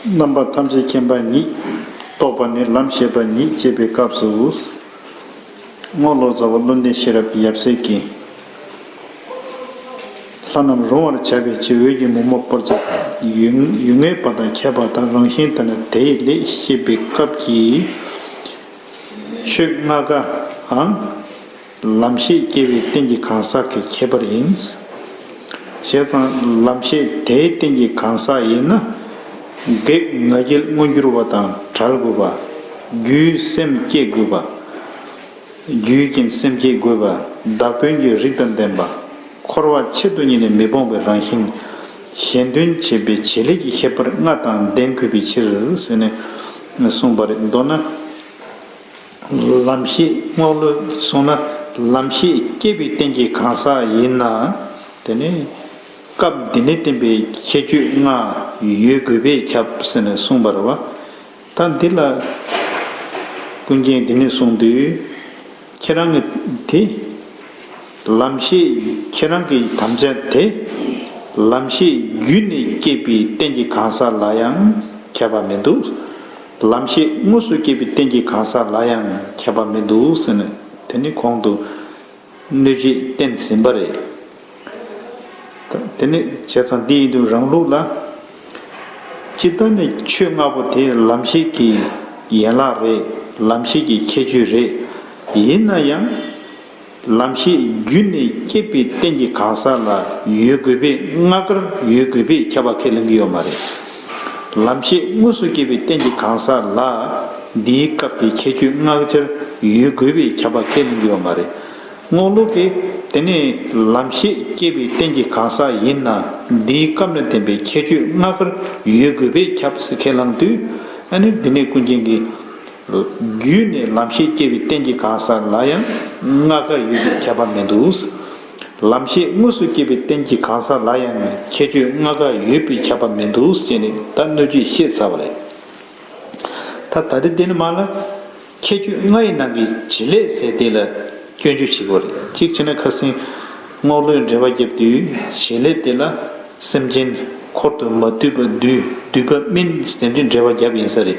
རྣམ་པར་ཐམས་ཅད་མཁྱེན་པ་ཉིད། རྟོགས་པ་ནི་ལམ་ཤེས་པ་ཉིད་ཅེས་པའི་སྐབས་སུ། རྔོག་ལོ་ཙཱ་བ་བློ་འདས་ཤེས་རབ་ཀྱི་ཡབ་སྲས་ཀྱིས། ལྷ་རྣམས་རུང་བར་བྱ་བའི་ཕྱིར་འོད་ཀྱི་མུ་མོ་པོར་བརྩིག། ཡུལ་ངེས་པ་དང་ཁྱད་པར་དང་རང་བཞིན་དེ་ལ་དེ་ཡི་ལས་ཤེས་པའི་སྐབས་ཀྱིས། ཆོས་ལྔ་ཀའང། ལམ་ཤེས་སྐྱེ་བའི་རྟེན་གྱི་གང་ཟག་གི་ཁྱད་པར་ཡིན། བྱས་ཙང་ལམ་ཤེས་དེའི་རྟེན་གྱི་གང་ཟག་ཡིན་ན། བགེགས་ང་རྒྱལ་མངོན་གྱུར་བ་དང་བྲལ་དགོས་པ། རྒྱུའི་སེམས་བསྐྱེད་དགོས་པ། རྒྱུའི་རྐྱེན་སེམས་བསྐྱེད་དགོས་པ་བདག་དོན་གྱི་རིགས་དང་ལྡན་པ། འཁོར་བ་ཆེད་དུ་ཉིད་ནས་མི་སྤོང་བའི་རང་བཞིན། གཞན་དོན་བྱེད་པའི་བྱེད་ལས་ཀྱི་ཁྱད་པར་ལྔ་དང་ལྡན་དགོས་པའི་ཕྱིར་ཟེར་ནས་གསུངས་པ་རེད། མདོར་ན། ལམ་ཤེས་རྔོག་ལོ་སོང་ན་ལམ་ཤེས་སྐྱེས་པའི་རྟེན་གྱི་གང་ཟག་ཡིན་ན། དེ་ནི་སྐབས་འདི་ནས་བསྟན་པའི་ཁྱད་ཆོས་ལྔ་ཡོད་དགོས་པས་ཁྱབ་ཟེར་ནས་གསུངས་པར་བ། ད་འདི་ལ་ཀུན་མཁྱེན་འདི་ནས་གསུངས་དུས་ཁྱེད་རང་གི་དེ། ལམ་ཤེས་ཁྱེད་རང་གི་དམ་བཅའ་དེ། ལམ་ཤེས་བརྒྱུད་ནས་སྐྱེས་པའི་རྟེན་གྱི་གང་ཟག་ལ་ཡང་ཁྱབ་པ་མི་འདུག། ལམ་ཤེས་དངོས་སུ་སྐྱེས་པའི་རྟེན་གྱི་གང་ཟག་ལ་ཡང་ཁྱད་པར་མི་འདུག་ཟེར་ནས་དེ་ནི་གོང་དུ་གནོད་བྱེད་བསྟན་ཟིན་པ་རེད། དེ་ནི་བྱས་ཙང་འདི་ཡིན་དུས་རང་ལུགས་ལ། ཅི་ལྟར་ནས་ཆོས་ལྔ་པོ་དེ་ལམ་ཤེས་ཀྱི་ཡན་ལག་རེད་ལམ་ཤེས་ཀྱི་ཁྱད་ཆོས་རེད། ཡིན་ན་ཡང། ལམ་ཤེས་བརྒྱུད་ནས་སྐྱེས་པའི་རྟེན་གྱི་གང་ཟག་ལ་ཡོད་དགོས་པས་སྔ་དཀར་ཡོད་དགོས་པས་ཁྱབ་པ་ཁས་ལེན་གྱི་ཡོད་མ་རེད། ལམ་ཤེས་དངོས་སུ་སྐྱེས་པའི་རྟེན་གྱི་གང་ཟག་ལ་འདིའི་སྐབས་ཀྱི་ཁྱད་ཆོས་སྔ་དཀར་ཡོད་དགོས་པས་ཁྱབ་པ་ཁས་ལེན་གྱི་ཡོད་མ་རེད། རྔོག་ལུག་གིས་དེ་ནི་ལམ་ཤེས་སྐྱེས་པའི་རྟེན་གྱི་གང་ཟག་ཡིན་ན་འདིའི་སྐབས་ན་དེ་པའི་ཁྱད་ཆོས་སྔ་དཀར་ཡོད་དགོས་པས་ཁྱབ་ཟེར་ཁས་བླངས་དུས། ཨ་ནི་འདི་ནི་ཀུན་མཁྱེན་གྱི། རྒྱུད་ནས་ལམ་ཤེས་སྐྱེ་བའི་རྟེན་གྱི་གང་ཟག་ལ་ཡང་ལྔ་ཀ་ཡོད་པའི་ཁྱད་པར་མེད་དོ། ལམ་ཤེས་དངོས་སུ་སྐྱེ་བའི་རྟེན་གྱི་གང་ཟག་ལ་ཡང་ཁྱད་ཆོས་ལྔ་ཀ་ཡོད་པའི་ཁྱད་པར་མེད་དོ་ཞེས་ནི་ད་སྣོད་བཅུད་བཤད་ཚར་བ་རེད། ད་ད་དེ་དེ་ནི་མ་ལ། ཁྱད་ཆོས་ལྔ་ཡི་ནང་གི་བྱེད་ལས་ཟད་དེ་ལ་སྐྱོན་བརྗོད་བྱེད་དགོས་རེད། གཅིག་བྱས་ན་ཁ་སེང་རྔོག་ལོའི་འགྲེལ་བ་བརྒྱབ་དུས་བྱེད་ལས་དེ་ལ་སེམས་ཅན་འཁོར་དུ་མ་འདུས་པ་འདུས་འདུས་པ་སྨིན་ཟེར་འདྲའི་འགྲེལ་བ་བརྒྱབ་ཡིན་ས་རེད།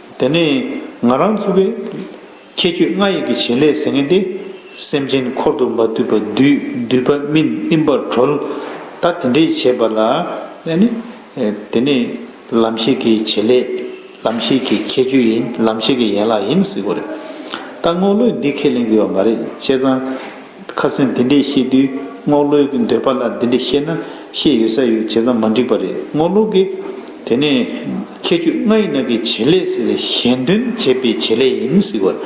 དེ་ནས་ང་རང་ཚུགས་པའི། ཁྱད་ཆོས་ལྔ་ཡི་གི་བྱེད་ལས་ཟེར་ངེས་ཏེ། སེམས་ཅན་འཁོར་དུ་མ་འདུས་པ་བདུད་འདུལ་པ་སྨིན་སྨིན་པར་གྲོལ། ད་དེ་འདྲའི་བྱེད་པ་ལ། དེ་ནི། ལམ་ཤེས་ཀྱི་བྱེད་ལས། ལམ་ཤེས་ཀྱི་ཁྱད་ཆོས་ཡིན་ལམ་ཤེས་ཀྱི་ཡན་ལག་ཡིན་ཟེར་དགོས་རེད། ད་དངོས་བློས་འདི་ཁས་ལེན་དགོས་པ་མ་རེད་བྱས་ཙང། ཁ་སེང་འདི་འདྲས་བཤད་དུས་རྔོག་ལོས་ཀྱི་འདོད་པ་ལ་འདི་འདྲས་བཤད་ན་བཤད་ཡོད་ས་ཡོད་བྱས་ཙང་མ་འགྲིག་པ་རེད་རྔོག་ལོ་གིས། དེ་ནས། ཁྱད་ཆོས་ལྔ་ཡི་ནང་གི་བྱེད་ལས་ཟེར་ལས་གཞན་དོན་བྱེད་པའི་བྱེད་ལས་ཡིན་ཟེར་བར།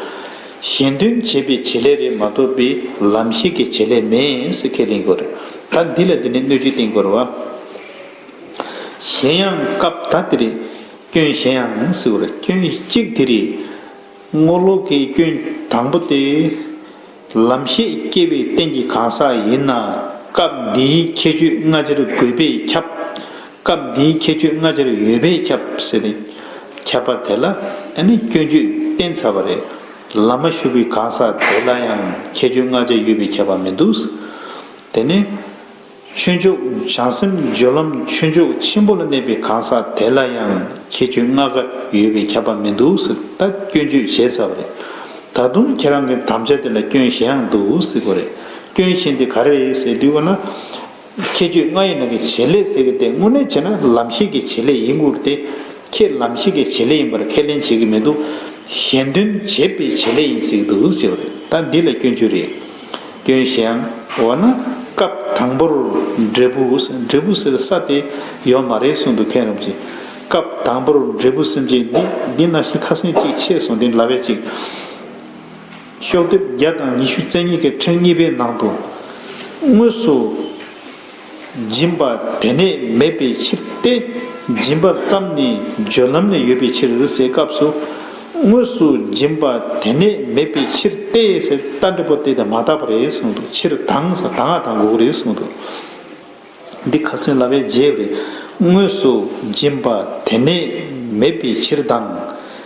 གཞན་དོན་བྱེད་པའི་བྱེད་ལས་རེད་མ་གཏོགས་པའི་ལམ་ཤེས་ཀྱི་བྱེད་ལས་མེད་ཟེར་ཁས་ལེན་དགོས་རེད། ད་འདི་ལ་འདི་འདྲའི་སྣོད་བཅུད་བསྟེན་དགོས་རེད་བ། གཞན་ཡང་སྐབས་ད་དེ་རེད། སྐྱོན་གཞན་ཡང་ཟེར་བར་སྐྱོན་གཅིག་དེ་རེད། རྔོག་ལོ་གིས་སྐྱོན་དང་པོ་སྟེ། ལམ་ཤེས་སྐྱེ་བའི་རྟེན་གྱི་གང་ཟག་ཡིན་ན་སྐབས་འདིའི་ཁྱད་ཆོས་སྔ་ཕྱིར་དགོས་པས་ཁྱབ། སྐབས་འདིའི་ཁྱད་ཆོས་སྔ་ཕྱིར་ཡོད་པས་ཁྱབ་ཟེར་བས། ཁྱབ་པ་དེ་ལ་ནི་སྐྱོན་བརྗོད་བསྟན་ཚར་བ་རེད། ལམ་མ་ཞུགས་པའི་གང་ཟག་དེ་ལ་ཡང་ཁྱད་ཆོས་སྔ་ཕྱིར་ཡོད་པས་ཁྱབ་པ་མི་འདུག། དེ་ནི། ཆོས་འཇོག་བྱང་སེམས་སྦྱོར་ལམ་ཆོས་འཇོག་ཆེན་པོ་ལ་གནས་པའི་གང་ཟག་དེ་ལ་ཡང་ཁྱེད་ཆོས་ལྔ་ག་ཡོད་པས་ཁྱབ་པ་མི་འདུག་ཟིག་ད་སྐྱོན་བརྗོད་བྱས་ཚར་བ་རེད། ད་དུང་ཁྱེད་རང་གི་དམ་བཅའ་དེ་ལ་སྐྱོན་གཞན་ཡང་འདུག་ཟིག་གོ་རེད། སྐྱོན་གཞན་དེ་ག་རེད་ཟེར་དུས་གོ་ན། ཁྱེད་ཆོས་ལྔ་ཡི་ནང་གི་བྱེད་ལས་ཟེར་གི་དེ་དངོས་གནས་བྱས་ན་ལམ་ཤེས་ཀྱི་བྱེད་ལས་ཡིན་ཁུལ་དེ། ཁྱེད་ལམ་ཤེས་ཀྱི་བྱེད་ལས་ཡིན་པར་ཁས་ལེན་བྱེད་ཀྱི་མི་འདུག་གཞན་དོན་བྱེད་པའི་བྱེད་ལས་ཡིན་ཟིག་འདུག་ཟེར་བ་རེད་ད་འདི་ལ་སྐྱོན་བརྗོད་རེད། སྐྱོན་གཞན། འོ་ན་སྐབས་དང་པོར་འབྲས་བུ་འབྲས་བུ་ཟེར་ས་དེ་ཡོད་མ་རེད་གསུངས་འདུག་མཁན་རིན་པོ་ཆེས། སྐབས་དང་པོར་འབྲས་བུ་སེམས་ཅན་འདི་འདི་ན་ཞིག་ཁ་སེང་ཅིག་ཕྱེས་སོང་འདི་འདྲ་བས་ཅིག། ཤོག་ལྡེབ་བརྒྱ་དང་ཉི་ཤུ་རྩེ་གཉིས་ཀའི་ཕྲེང་གཉིས་པའི་ནང་དུ། དངོས་སུ། སྦྱིན་པ་དེ་ནས་མེད་པའི་ཕྱིར་ཏེ། སྦྱིན་པ་ཙམ་ནི་སྦྱོར་ལམ་ནས་ཡོད་པའི་ཕྱིར་འོད་གསལ་སྐབས་སུ། དངོས་སུ་སྦྱིན་པ་དེ་ནས་མེད་པའི་ཕྱིར་ཏེ། རྟ་འདྲེ་པོ་སྟེ་དེ་མ་དག་པ་རེད་གསུངས་འདུག་ཕྱིར་དང་ས་དང་ཨ་དང་འགོག་རེད་གསུངས་འདུག། འདི་ཁ་སེང་ལ་བའི་རྗེས་རེད། དངོས་སུ་སྦྱིན་པ་དེ་ནས་མེད་པའི་ཕྱིར་དང།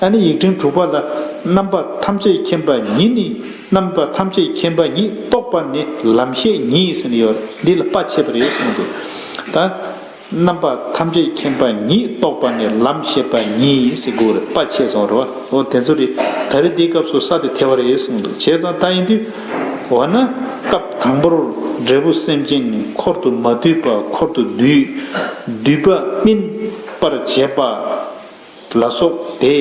ཨ་ནི་ཡིག་ཕྲེང་དྲུག་པ་ལ། རྣམ་པ་ཐམས་ཅད་མཁྱེན་པ་ཉིད་ནི། རྣམ་པ་ཐམས་ཅད་མཁྱེན་པ་ཉིད་རྟོགས་པ་ནི་ལམ་ཤེས་ཉིད་ཟེར་ནི་ཡོད་རེད། འདི་ལ་དཔའ་ཆེ་བ་རེད་གསུངས་འདུག་ད། རྣམ་པ་ཐམས་ཅད་མཁྱེན་པ་ཉིད་རྟོགས་པ་ནི་ལམ་ཤེས་པ་ཉིད་ཡིན་སྲིད་དགོས་རེད་དཔའ་ཆེ་སོང་རེད་བ། འོ་དེ་ཚོ་རེད་ད་རེ་འདིའི་སྐབས་སུ་ས་དེ་ཐལ་བ་རེད་གསུངས་འདུག་བྱས་ཙང་ད་ཡིན་དུས། འོ་ན། སྐབས་དང་པོར་འབྲས་བུ་སེམས་ཅན་ནི་འཁོར་དུ་མ་འདུས་པ་འཁོར་དུ་འདུས། འདུས་པ་སྨིན་པར་བྱེད་པ། ལ་སོགས་ཏེ།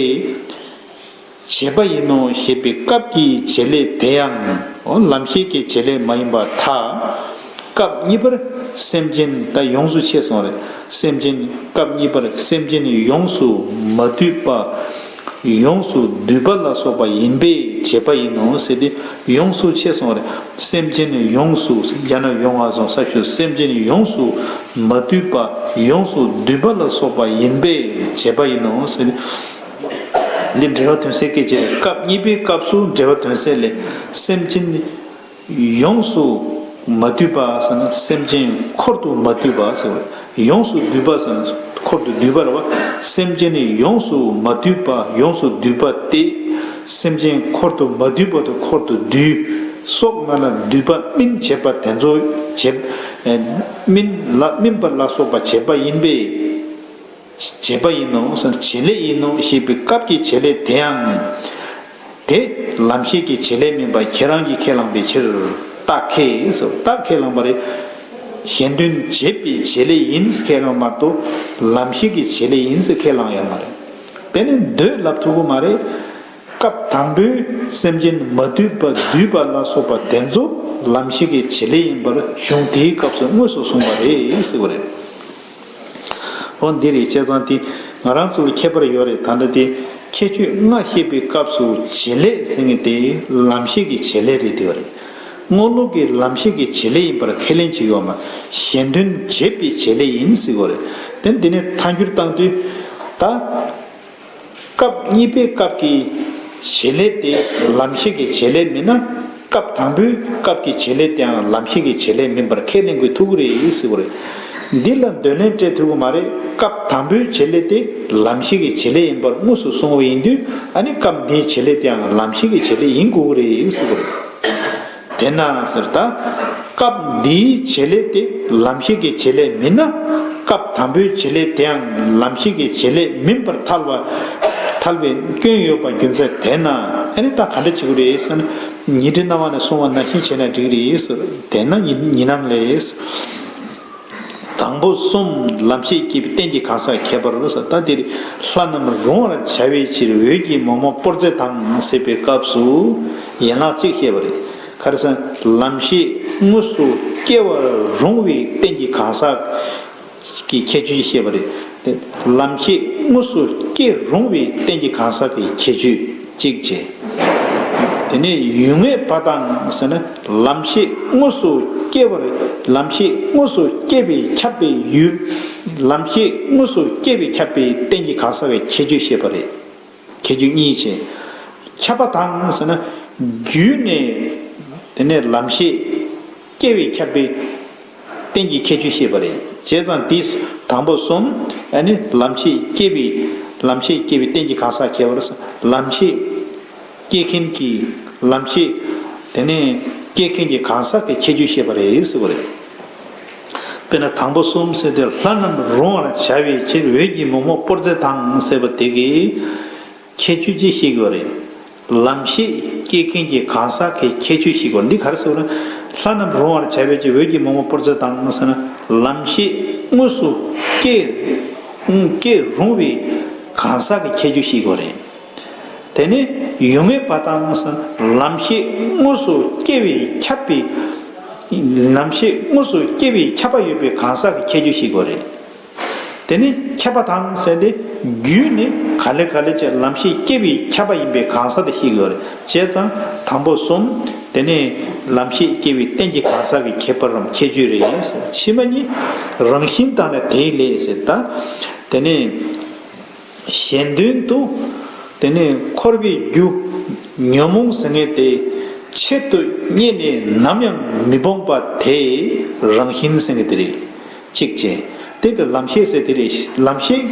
བྱེད་པ་ཡིན་ནོ་ཞེས་པའི་སྐབས་ཀྱི་བྱེད་ལས་དེའང་ལམ་ཤེས་ཀྱི་བྱེད་ལས་མ་ཡིན་པར་ཐ། སྐབས་གཉིས་པར་སེམས་ཅན་ད་ཡོངས་སུ་ཆད་སོང་རེ་སེམས་ཅན་སྐབས་གཉིས་པར་སེམས་ཅན་ཡོངས་སུ་མ་བསྡུས་པ། ཡོངས་སུ་བསྡུས་པ་ལ་སོགས་པ་ཡིན་པས་བྱེད་པ་ཡིན་ནོ་ཟེར་ཏེ། ཡོངས་སུ་ཆད་སོང་བར་སེམས་ཅན་ནི་ཡོངས་སུ་རྒྱ་ནག་ཡོང་བ་སོང་ས་ཞུ་སེམས་ཅན་ནི་ཡོངས་སུ་མ་དུལ་པ་ཡོངས་སུ་འདུལ་པ་ལ་སོགས་པ་ཡིན་པས་བྱས་པ་ཡིན་ནོ། འདིར་འགྲེལ་བ་དོན་གསལ་སྐད་ཅེས་པའི་སྐབས་གཉིས་པའི་སྐབས་སུ་འགྲེལ་བ་དོན་གསལ་ལས་སེམས་ཅན་ནི་ཡོངས་སུ་མ་དུལ་པ་ཟེར་ན་སེམས་ཅན་འཁོར་དུ་མ་དུལ་བ་ཟེར་བས། ཡོངས་སུ་སྡུད་པ་བསམ་གྱི་འཁོར་དུ་སྡུད་པར་བ། སེམས་ཅན་ནི་ཡོངས་སུ་མ་སྡུད་པ་ཡོངས་སུ་སྡུད་པ་སྟེ། སེམས་ཅན་འཁོར་དུ་མ་སྡུད་པ་དུ་འཁོར་དུ་སྡུད། སྲོག་སྣ་ལ་སྡུད་པ་སྨིན་བྱེད་པ་དེ་ཚོ་བྱེད། སྨིན་ལ་སྨིན་པ་ལ་སོགས་པ་བྱེད་པ་ཡིན་པས། བྱེད་པ་ཡིན་ནོ་བྱེད་ལས་ཡིན་ནོ་ཞེས་པའི་སྐབས་ཀྱི་བྱེད་ལས་དེའང། དེ་ལམ་ཤེས་ཀྱི་བྱེད་ལས་མིན་པ་ཁྱེད་རང་གིས་ཁས་བླངས་པའི་ཕྱིར། རྟགས་ཁས་རྟགས་ཁས་བླངས་པ་རེད། གཞན་དོན་བྱེད་པའི་བྱེད་ལས་ཡིན་ཟེར་ཁས་བླངས་མ་གཏོགས་ལམ་ཤེས་ཀྱི་བྱེད་ལས་ཡིན་ཟེར་ཁས་བླངས་ཡོད་མ་རེད། དེ་ནི་འདོད་ལབ་ཐུབ་པོ་མ་རེད། སྐབས་དང་པོའི་སེམས་ཅན་མ་བསྡུས་པ་བསྡུས་པ་ལ་སོགས་པ་དེ་ཚོ་ལམ་ཤེས་ཀྱི་བྱེད་ལས་ཡིན་པར་གཞུང་དེའི་སྐབས་སུ་དངོས་སུ་གསུངས་པ་རེད་ཟེར་བ་རེད། ཨོ་འདི་རེད་བྱས་ཙང་དེ་ང་རང་ཚོར་ཁྱད་པར་ཡོད་རེད་ད་འདྲ་དེ། ཁྱད་ཆོས་ལྔ་བཤད་པའི་སྐབས་སུ་བྱེད་ལས་ཟེར་ངེས་དེ་ལམ་ཤེས་ཀྱི་བྱེད་ལས་རེད་དེ། དངོས་སློབ་ཀྱི་ལམ་ཤེས་ཀྱི་བྱེད་ལས་ཡིན་པར་ཁས་ལེན་བྱེད་ཡོད་མ་གཞན་དོན་བྱེད་པའི་བྱེད་ལས་ཡིན་སྲིད་གོ་རེད་དེ་འདི་ནས་མཐའ་འགྱུར་བཏང་དུས། ད། སྐབས་གཉིས་པའི་སྐབས་ཀྱི་བྱེད་ལས་དེ་ལམ་ཤེས་ཀྱི་བྱེད་ལས་མིན་ན། སྐབས་དང་པོའི་སྐབས་ཀྱི་བྱེད་ལས་དེའང་ལམ་ཤེས་ཀྱི་བྱེད་ལས་མིན་པར་ཁས་ལེན་དགོས་ཐུག་གི་རེད་ཟེར་བ་རེད། འདི་ལ་འདོད་ལན་སྤྲད་ཐུབ་ཀྱི་མ་རེད་སྐབས་དང་པོའི་བྱེད་ལས་དེ་ལམ་ཤེས་ཀྱི་བྱེད་ལས་ཡིན་པར་དངོས་སུ་གསུངས་བ་ཡིན་དུས་ཨ་ནི་སྐབས་འདིའི་བྱེད་ལས་དེའང་ལམ་ཤེས་ཀྱི་བྱེད་ལས་ཡིན་དགོས་ཀྱི་རེད་ཟེར་བ་རེད། དེས་ན་ཟེར། ད་སྐབས་འདིའི་བྱེད་ལས་དེ་ལམ་ཤེས་ཀྱི་བྱེད་ལས་མིན་ན། སྐབས་དང་པོའི་བྱེད་ལས་དེའང་ལམ་ཤེས་ཀྱི་བྱེད་ལས་མིན་པར་ཐལ་བ། ཐལ་བའི་སྐྱོན་ཡོད་པ་རྒྱུ་མཚན་དེས་ན་ཨེ་རེད་ད་ག་འདྲ་བྱེད་དགོས་རེད་ཟེར་ན། ཉིད་དྲི་སྣང་བ་ནས་སོང་བ་ནང་བཞིན་བྱས་ན་འགྲིག་རེད་ཟེར། དེས་ན་ཉིད་སྣང་ལས། དང་པོ་གསུམ་ལམ་ཤེས་སྐྱེས་པའི་རྟེན་གྱི་གང་ཟག་ཁྱད་པར་ས་ཐ་དེར་ལྷ་རྣམས་རུང་བར་བྱ་བའི་ཕྱིར་འོད་ཀྱི་མོག་མོག་པོར་རྫས་དང་བསྲེས་པའི་སྐབས་སུ་ཡན་ལག་གཅིག་བཤད་པ་རེད། ཁ་རེ་ས་ལམ་ཤེས་དངོས་སུ་སྐྱེ་བར་རུང་བའི་རྟེན་གྱི་གང་ཟག་གི་ཁྱད་ཆོས་ཀྱིས་བཤད་པ་རེད། ལམ་ཤེས་དངོས་སུ་སྐྱེ་རུང་བའི་རྟེན་གྱི་གང་ཟག་གི་ཁྱད་ཆོས། གཅིག་བྱས། དེ་ནས་ཡུལ་ངེས་པ་དང་ཟེར་ན་ལམ་ཤེས་དངོས་སུ་སྐྱེ་བར་ལམ་ཤེས་དངོས་སུ་སྐྱེས་པས་ཁྱབ་པའི་ཡུལ། ལམ་ཤེས་དངོས་སུ་སྐྱེས་པས་ཁྱབ་པའི་རྟེན་གྱི་གང་ཟག་བའི་ཁྱད་ཆོས་བཤད་པ་རེད། ཁྱད་ཆོས་གཉིས་བྱས། ཁྱབ་པ་དང་ཟེར་ན་རྒྱུད་ནས་དེ་ནས་ལམ་ཤེས། སྐྱེ་བའི་ཁྱབ་པའི་རྟེན་གྱི་ཁྱད་ཆོས་ཤེས་པ་རེད། བྱས་ཙང་དེ་དང་པོ་གསུམ། ནི། ལམ་ཤེས་སྐྱེ་བའི། ལམ་ཤེས་སྐྱེ་བའི་རྟེན་གྱི་གང་ཟག་ཁྱད་པར། ལམ་ཤེས། སྐྱེ་མཁན་གྱི། ལམ་ཤེས། དེ་ནས། སྐྱེ་མཁན་གྱི་གང་ཟག་གི་ཁྱད་ཆོས་ཤེས་པ་རེད་ཟེར་བ་རེད། དཔེར་ན་དང་པོ་གསུམ་ཟེར་ཏེ་ལྷ་རྣམས་རུང་བར་བྱ་བའི་ཕྱིར་འོད་ཀྱི་མོག་མོག་པོར་རྫས་དང་ཟེར་བ་དེ་གའི། ཁྱད་ཆོས་ཅི་ཤེས་དགོས་རེད། ལམ་ཤེས་སྐྱེས་མཁན་གྱི་གང་ཟག་གི་ཁྱད་ཆོས་ཤིག་གོ་འདི་གར་ཟེར་བ་ན། ལྷ་རྣམས་རུང་བར་བྱ་བའི་ཀྱི་འོད་ཀྱི་མོག་མོག་པོར་ཚེ་དང་ཟེར་ན། ལམ་ཤེས་དངོས་སུ་སྐྱེས་རུང་བའི་གང་ཟག་གི་ཁྱད་ཆོས་ཤིག་གོ་རེད། དེ་ནི་ཡུལ་ངེས་པ་དང་ཟེར་ན་ལམ་ཤེས་དངོས་སུ་སྐྱེ་བའི་ཁྱབ་པའི། ལམ་ཤེས་དངོས་སུ་སྐྱེ་བའི་ཁྱབ་པ་ཡོད་པའི་གང་ཟག་གི་ཁྱད་ཆོས་ཤིག་གོ་རེད། དེ་ནི་ཁྱབ་པ་དང་བསལ་ཏེ། རྒྱུད་ནི་ག་ལེ་ག་ལེ་ཅེས་ལམ་ཤེས་སྐྱེས་པས་ཁྱབ་པ་ཡིན་པའི་གང་ཟག་དེ་ཤེས་དགོས་རེད་བྱས་ཙང་དང་པོ་གསུམ། དེ་ནི་ལམ་ཤེས་སྐྱེས་པའི་རྟེན་གྱི་གང་ཟག་གི་ཁྱད་པར་རམ་ཁྱད་ཆོས་རེད་ཡིན་ཟེར་ཕྱི་མ་གཉིས། རང་བཞིན་དང་ལས་དེའི་ལས་ཟེར་ད། དེ་ནི་གཞན་དོན་དུ། དེ་ནི་འཁོར་བའི་རྒྱུ། ཉོན་མོངས་ཟིལ་ངེས་དེ། ཆེད་དུ་རྙེད་ནས་ནམ་ཡང་མི་སྤོང་པ་དེ། རང་བཞིན་ཟིལ་ངེས་དེ་རེད། ཅིག་ཅེས། དེ་དེར་ལམ་ཤེས་ཟེར་དེ་རེད། ལམ་ཤེས།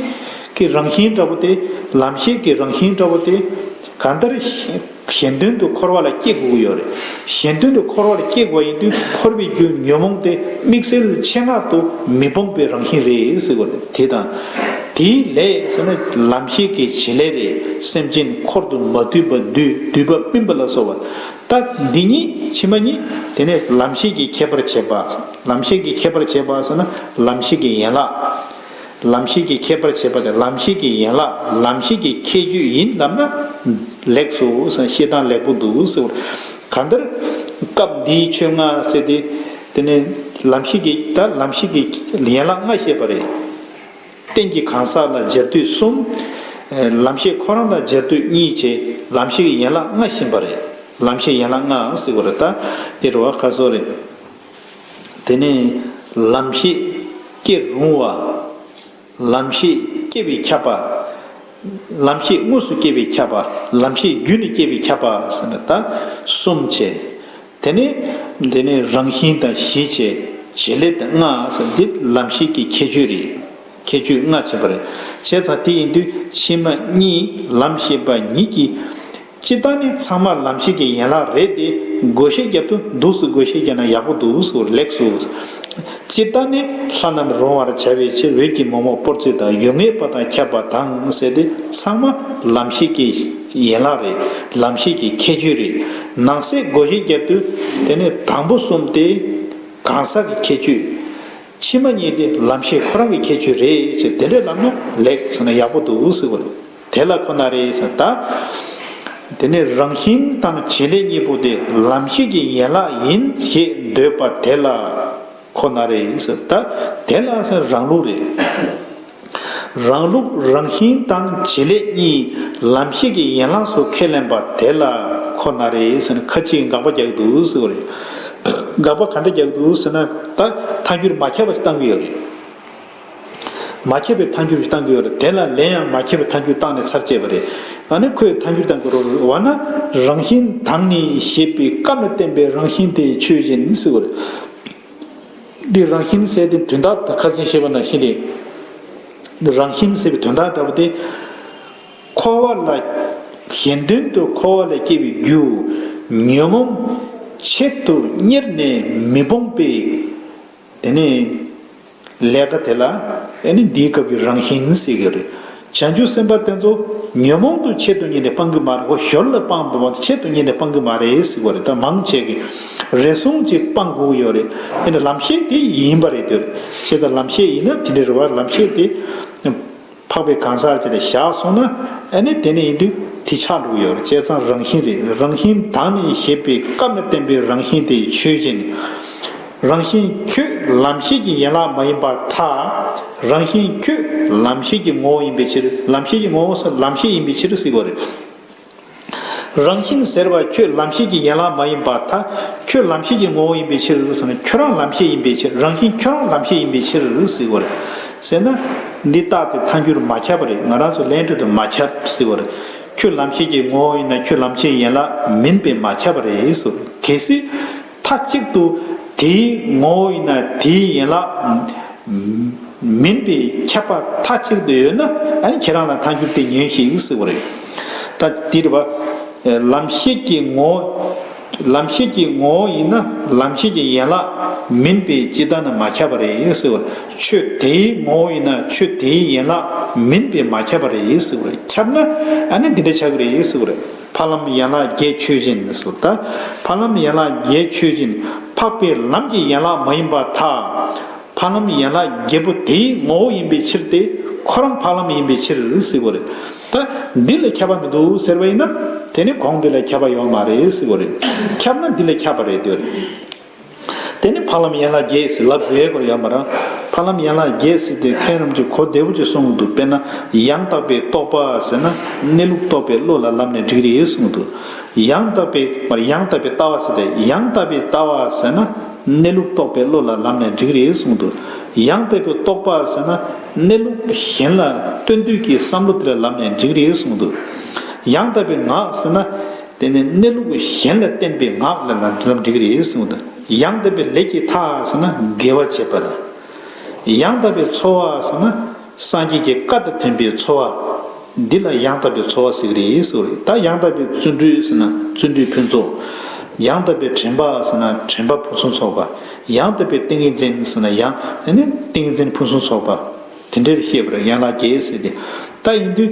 ཀྱི་རང་བཞིན་འདྲ་པོ་སྟེ། ལམ་ཤེས་ཀྱི་རང་བཞིན་འདྲ་པོ་སྟེ། གང་ལྟར། གཞན་དོན་དུ་འཁོར་བ་ལ་སྐྱེ་དགོས་ཀྱི་ཡོད་རེད། གཞན་དོན་དུ་འཁོར་བ་ལ་སྐྱེ་དགོས་པ་ཡིན་དུས་འཁོར་བའི་རྒྱུ་ཉོན་མོངས་ཏེ་དམིགས་བསལ་ཆེད་མངག་ཏུ་མི་སྤོང་པའི་རང་བཞིན་རེད་ཟེར་དགོས་རེད། དེ་དང། དེའི་ལས་ཟེར་ན་ལམ་ཤེས་ཀྱི་བྱེད་ལས་རེད། སེམས་ཅན་འཁོར་དུ་མ་བསྡུས་པ་བསྡུས་བསྡུས་པ་སྨིན་པ་ལ་སོགས་པ། རྟགས་འདི་ཉིད་ཕྱི་མ་གཉིས་དེ་ནི་ལམ་ཤེས་ཀྱི་ཁྱད་པར་བྱེད་པ། ལམ་ཤེས་ཀྱི་ཁྱད་པར་བྱེད་པ་ཟེར་ན་ལམ་ཤེས་ཀྱི་ཡན་ལག། ལམ་ཤེས་ཀྱི་ཁྱད་པར་བྱེད་པ་དེ་ལམ་ཤེས་ཀྱི་ཡན་ལག་ལམ་ཤེས་ཀྱི་ཁྱད་ཆོས་ཡིན་ལབ་ན། ལེགས་སོ་ཟེར་བཤད་སྟངས་ལེགས་པོ་འདུག་ཟེར་བར། གང་ལྟར། སྐབས་འདིའི་ཆོས་ལྔ་ཟེར་ཏེ། དེ་ནི་ལམ་ཤེས་ཀྱི་ད་ལམ་ཤེས་ཀྱི་ཡན་ལག་ལྔ་བཤད་པ་རེད། རྟེན་གྱི་གང་ཟག་ལ་སྦྱར་དུས་གསུམ། ལམ་ཤེས་ཁོ་རང་དང་སྦྱར་དུས་གཉིས་བཅས་ལམ་ཤེས་ཀྱི་ཡན་ལག་ལྔ་བཞིན་པ་རེད། ལམ་ཤེས་ཡན་ལག་ལྔའང་གཟིགས་པ་རེ་ད་ཨེ་རེད་བ་ཁ་སོ་རེད། དེ་ནས་ལམ་ཤེས་སྐྱེ་རུང་བ། ལམ་ཤེས་སྐྱེ་བས་ཁྱབ་པ། ལམ་ཤེས་དངོས་སུ་སྐྱེ་བས་ཁྱབ་པ། ལམ་ཤེས་རྒྱུད་ནས་སྐྱེ་བས་ཁྱབ་པ་ཟེར་ན་ད་གསུམ་བྱས། དེ་ནི་འདི་ནི་རང་བཞིན་དང་གཞི་བྱེད་བྱེད་ལས་དང་ལྔ་སོགས་འདི་ལམ་ཤེས་ཀྱི་ཁྱད་ཆོས་རེད། ཁྱད་ཆོས་ལྔ་བྱེད་པ་རེད། བྱས་ཙང་དེ་ཡིན་དུས་ཕྱི་མ་གཉིས་ལམ་ཤེས་པ་ཉིད་ཀྱི། སྤྱི་བཏང་ནི་ཚང་མ་ལམ་ཤེས་ཀྱི་ཡན་ལག་རེད་དེ་དགོས་ཤེས་རྒྱབ་ཏུ་འདུག་སུ་དགོས་ཤེས་རྒྱབ་ན་ཡག་པོ་འདུག་སུ་ལེགས་སུ། སྤྱིར་བཏང་ནི་ལྷ་རྣམས་རུང་བར་བྱ་བའི་ཕྱིར་འོད་ཀྱི་མོག་མོག་པོར་ཚིག་དང་ཡུལ་ངེས་པ་དང་ཁྱབ་པ་དང་བསྲེས་ཏེ་ཚང་མ་ལམ་ཤེས་ཀྱི་ཡན་ལག་རེད་ལམ་ཤེས་ཀྱི་ཁྱད་ཆོས་རེད། ནང་གསེས་སྒོ་བཞི་རྒྱབ་ཏུ་དེ་ནི་དང་པོ་གསུམ་སྟེ། གང་ཟག་གི་ཁྱད་ཆོས། ཕྱི་མ་གཉིས་ཏེ་ལམ་ཤེས་ཁོ་རང་གི་ཁྱད་ཆོས་རེད་ཅེས་དེ་འདྲས་ལབ་ན་ལེགས་ཟེར་ན་ཡག་པོ་འདུག་ཟེར་བ་རེད། དེ་ལ་ཁོ་ན་རེ་ཟེར། དེ་ནི་རང་བཞིན་དང་བྱེད་ལས་གཉིས་པོ་དེ་ལམ་ཤེས་ཀྱི་ཡན་ལག་ཡིན་ཞེས་འདོད་པ་དེ་ལ་ཁོ་ན་རེ་ཟེར། དེ་ལ་རང་ལུགས་རེ། རང་ལུགས་རང་བཞིན་དང་བྱེད་ལས་གཉིས་ལམ་ཤེས་ཀྱི་ཡན་ལག་སོགས་ཁས་ལེན་པ་དེ་ལ་ཁོ་ན་རེ་ཟེར་ཁ་ཅིག་དགག་པ་རྒྱག་འདུག་ཟེར་བ་རེད། དགག་པ་ག་འདྲ་རྒྱག་འདུག་ཟེར་ན། ད་མཐའ་འཁྱོལ་མ་ཁྱབ་པ་ཞིག་གཏང་གི་ཡོད་རེད། མ་ཁྱབ་པའི་མཐའ་འགྱུར་གཏང་གི་ཡོད་ལ་དེ་ལ་ལན་ཡང་མ་ཁྱབ་པའི་མཐའ་འགྱུར་བཏང་ནས་ཚར་བཅད་པ་རེད། ད་ནི་ཁོས་མཐའ་འགྱུར་བཏང་གི་རོ་བ་ན་རང་བཞིན་དང་ནི་ཞེས་པའི་སྐབས་ནས་བསྟན་པའི་རང་བཞིན་དེ་ཆོས་བཞིན་བསྲེ་བ་རེད། འདིར་རང་བཞིན་བསྲེ་སྟེ་དོན་དག་ཁ་ཟིན་ཞེས་པ་ན་བཞིན་རེད། འདིར་རང་བཞིན་བསྲེ་བའི་དོན་དག་འདྲ་པོ་དེ། འཁོར་བ་ལ། གཞན་དོན་དུ་འཁོར་བ་ལས་སྐྱེས་པའི་རྒྱུ། ཉོན་མོངས། ཆེད་དུ་གཉེར་ནས་མི་སྤོང་པའི། དེ་ནས། ལས་ཀ་དེ་ལ། ཨེ་ནི་འདིའི་སྐབས་ཀྱི་རང་བཞིན་ནི་སྲིད་གི་རེད། བྱང་ཆུབ་སེམས་དཔའ་དེ་ཚོ། ཉོན་མོངས་དུ་ཆེད་དུ་གཉེར་ནས་སྤང་གི་མ་རེད་ཨོ་ཞོར་ལ་སྤང་དུ་མ་ཆེད་དུ་གཉེར་ནས་སྤང་གི་མ་རེད་སྲིད་གོ་རེད་ད་མང་ཆེ་གི། རེ་ཟུང་ཅིག་སྤང་དགོས་ཡོད་རེད་ཨེ་ནི་ལམ་ཤེས་དེ་ཡིན་པ་རེད་དོ། ཞེས་དང་ལམ་ཤེས་ཡིན་ན་དེ་འདྲའི་རེ་བ་ལམ་ཤེས་དེ། འཕགས་པའི་གང་ཟག་ཅིག་ལ་བཞག་གསུངས་ན་ཨེ་ནི་དེ་ནི་ཡིན་དུས་དེ་ཆགས་འགྲོ་གི་ཡོད་རེད་བྱས་ཙང་རང་བཞིན་རེད་རང་བཞིན་དང་ནི་ཞེས་པའི་སྐབས་ནས་བསྟན་པའི་རང་བཞིན་དེ་ཆོས་ཅན། རང་བཞིན་ཁྱོད་ལམ་ཤེས་ཀྱི་ཡན་ལག་མ་ཡིན་པར་ཐལ། རང་བཞིན་ཁྱོད་ལམ་ཤེས་ཀྱི་ངོ་བོ་ཡིན་པའི་ཕྱིར་ལམ་ཤེས་ཀྱི་ངོ་བོ་ལམ་ཤེས་ཡིན་པའི་ཕྱིར་གཟིགས་པ་རེད། རང་བཞིན་ཟེར་བ་ཁྱོད་ལམ་ཤེས་ཀྱི་ཡན་ལག་མ་ཡིན་པར་ཐ། ཁྱོད་ལམ་ཤེས་ཀྱི་ངོ་བོ་ཡིན་པའི་ཕྱིར། ཁྱོད་རང་ལམ་ཤེས་ཡིན་པའི་ཕྱིར་རང་བཞིན་ཁྱོད་རང་ལམ་ཤེས་ཡིན་པའི་ཕྱིར། ཟེར་བ་རེད། ཟེར་ན། འདི་རྟགས་དེ་མཐའ་འགྱུར་མ་ཁྱབ་པ་རེད་ང་རང་ཚོ་ལན་ཁྲོད་དུ་མ་ཁྱབ་ཟེར་བ་རེད། ཁྱོད་ལམ་ཤེས་ཀྱི་ངོ་བོ་ཡིན་ན་ཁྱོད་ལམ་ཤེས་ཡན་ལག་མིན་པས་མ་ཁྱབ་པ་རེད། གལ་སྲིད། མཐའ་གཅིག་ཏུ་དེའི་ངོ་བོ་ཡིན་ན་དེའི་ཡན་ལག་མིན་པའི་ཁྱབ་པ་མཐའ་གཅིག་ཏུ་ཡོད་ན་ཁྱེད་རང་ལ་མཐའ་འགྱུར་ཏེ་ཉོན་ཞིག་སྲིད་པ་རེད། ད་དེའི་དྲི་བ། ལམ་ཤེས་ཀྱི་ངོ་བོ། ལམ་ཤེས་ཀྱི་ངོ་བོ་ཡིན་ན་ལམ་ཤེས་ཀྱི་ཡན་ལག་མིན་པས་ཅི་ལྟར་ན་མ་ཁྱབ་པ་རེད་སྲིད་པ། ཆོས་དེའི་ངོ་བོ་ཡིན་ན་ཆོས་དེའི་ཡན་ལག་མིན་པས་མ་ཁྱབ་པ་རེད་སྲིད་པ། ཁྱབ་ན་འདི་འདྲ་ཆགས་ཀྱི་རེད་སྲིད་པ། ཕ་ལམ་ཡན་ལག་བརྒྱད་ཆོས་ཅན། ཕ་ལམ་ཡན་ལག་བརྒྱད་ཆོས་ཅན། འཕགས་པའི་ལམ་གྱི་ཡན་ལག་མ་ཡིན་པ་དག། ཕ་ལམ་ཡན་ལག་བརྒྱད་པོ་དེའི་ངོ་བོ་ཡིན་པའི་ཕྱིར་ཏེ། འཁོར་རམ་འཕགས་ལམ་ཡིན་པའི་ཕྱིར། ད་འདི་ལ་ཁྱབ་པ་མི་འདུག་ཟེར་བ་ཡིན་ན། དེ་ནི་གོང་འདི་ལ་ཁྱབ་པ་ཡོད་མ་རེད། ཁྱབ་ན་འདི་ལ་ཁྱབ་པ་རེད། དེ་ནས་འཕགས་ལམ་ཡན་ལག་བརྒྱད་ཟིལ་ལབ་བཟླས་སྐོར་ཡང་པ་རང་འཕགས་ལམ་ཡན་ལག་བརྒྱད་ཟིལ་དེ་མཁན་རིན་པོ་ཆེ་གོ་བདེ་བོ་ཅེས་གསུངས་ཀྱི་འདུག་དཔེར་ན་ཡང་དག་པའི་རྟོགས་པ་ཟེར་ན་གནས་ལུགས་རྟོགས་པའི་བློ་ལ་ལམ་ནས་འགྲིག་རེད་གསུངས་ཀྱི་འདུག་ཡང་དག་པའི་མར་ཡང་དག་པའི་ལྟ་བ་ཟེར་ཏེ་ཡང་དག་པའི་ལྟ་བ་ཟེར་ན་གནས་ལུགས་རྟོགས་པའི་བློ་ལ་ལམ་ནས་འགྲིག་རེད་གསུངས་ཀྱི་འདུག་ཡང་དག་པའི་རྟོགས་པ་ཟེར་ན་གནས་ལུགས་གཞན་ལ་ལྟོས་འདོད་ཀྱི་བསམ་བློ་དེ་ལ་ལམ་ནས་འགྲིག་རེད་གསུངས་ཀྱི་འདུག་ཡང་དག་པའི་ངག་ཟེར་ན། དེ་ནས་གནས་ལུགས་གཞན་ལ་བརྟེན་པའི་ངག་ལ་ལ་འདི་ཙམ་འགྲིག་གི་རེད་ཟེར་མོད། ཡང་དག་པའི་ལས་ཀྱི་མཐའ་ཟེར་ན་དགེ་བ་བྱེད་པ་ལ། ཡང་དག་པའི་འཚོ་བ་ཟེར་ན་སངས་རྒྱས་ཀྱི་བཀའ་དང་མཐུན་པའི་འཚོ་བ། འདི་ལ་ཡང་དག་པའི་འཚོ་བ་ཟེར་གི་རེད་ཟེར་བ་རེད། ད་ཡང་དག་པའི་བརྩོན་འགྲུས་ཟེར་ན་བརྩོན་འགྲུས་ཕུན་ཚོགས། ཡང་དག་པའི་དྲན་པ་ཟེར་ན་དྲན་པ་ཕུན་སུམ་ཚོགས་པ། ཡང་དག་པའི་ཏིང་ངེ་འཛིན་ཟེར་ན་ཡང་དེ་ནི་ཏིང་ངེ་འཛིན་ཕུན་སུམ་ཚོགས་པ། དེ་འདྲའི་བཤད་པར་ཡང་ལ་རྒྱའི་ཟེར་ཏེ། ད་ཡིན་དུས།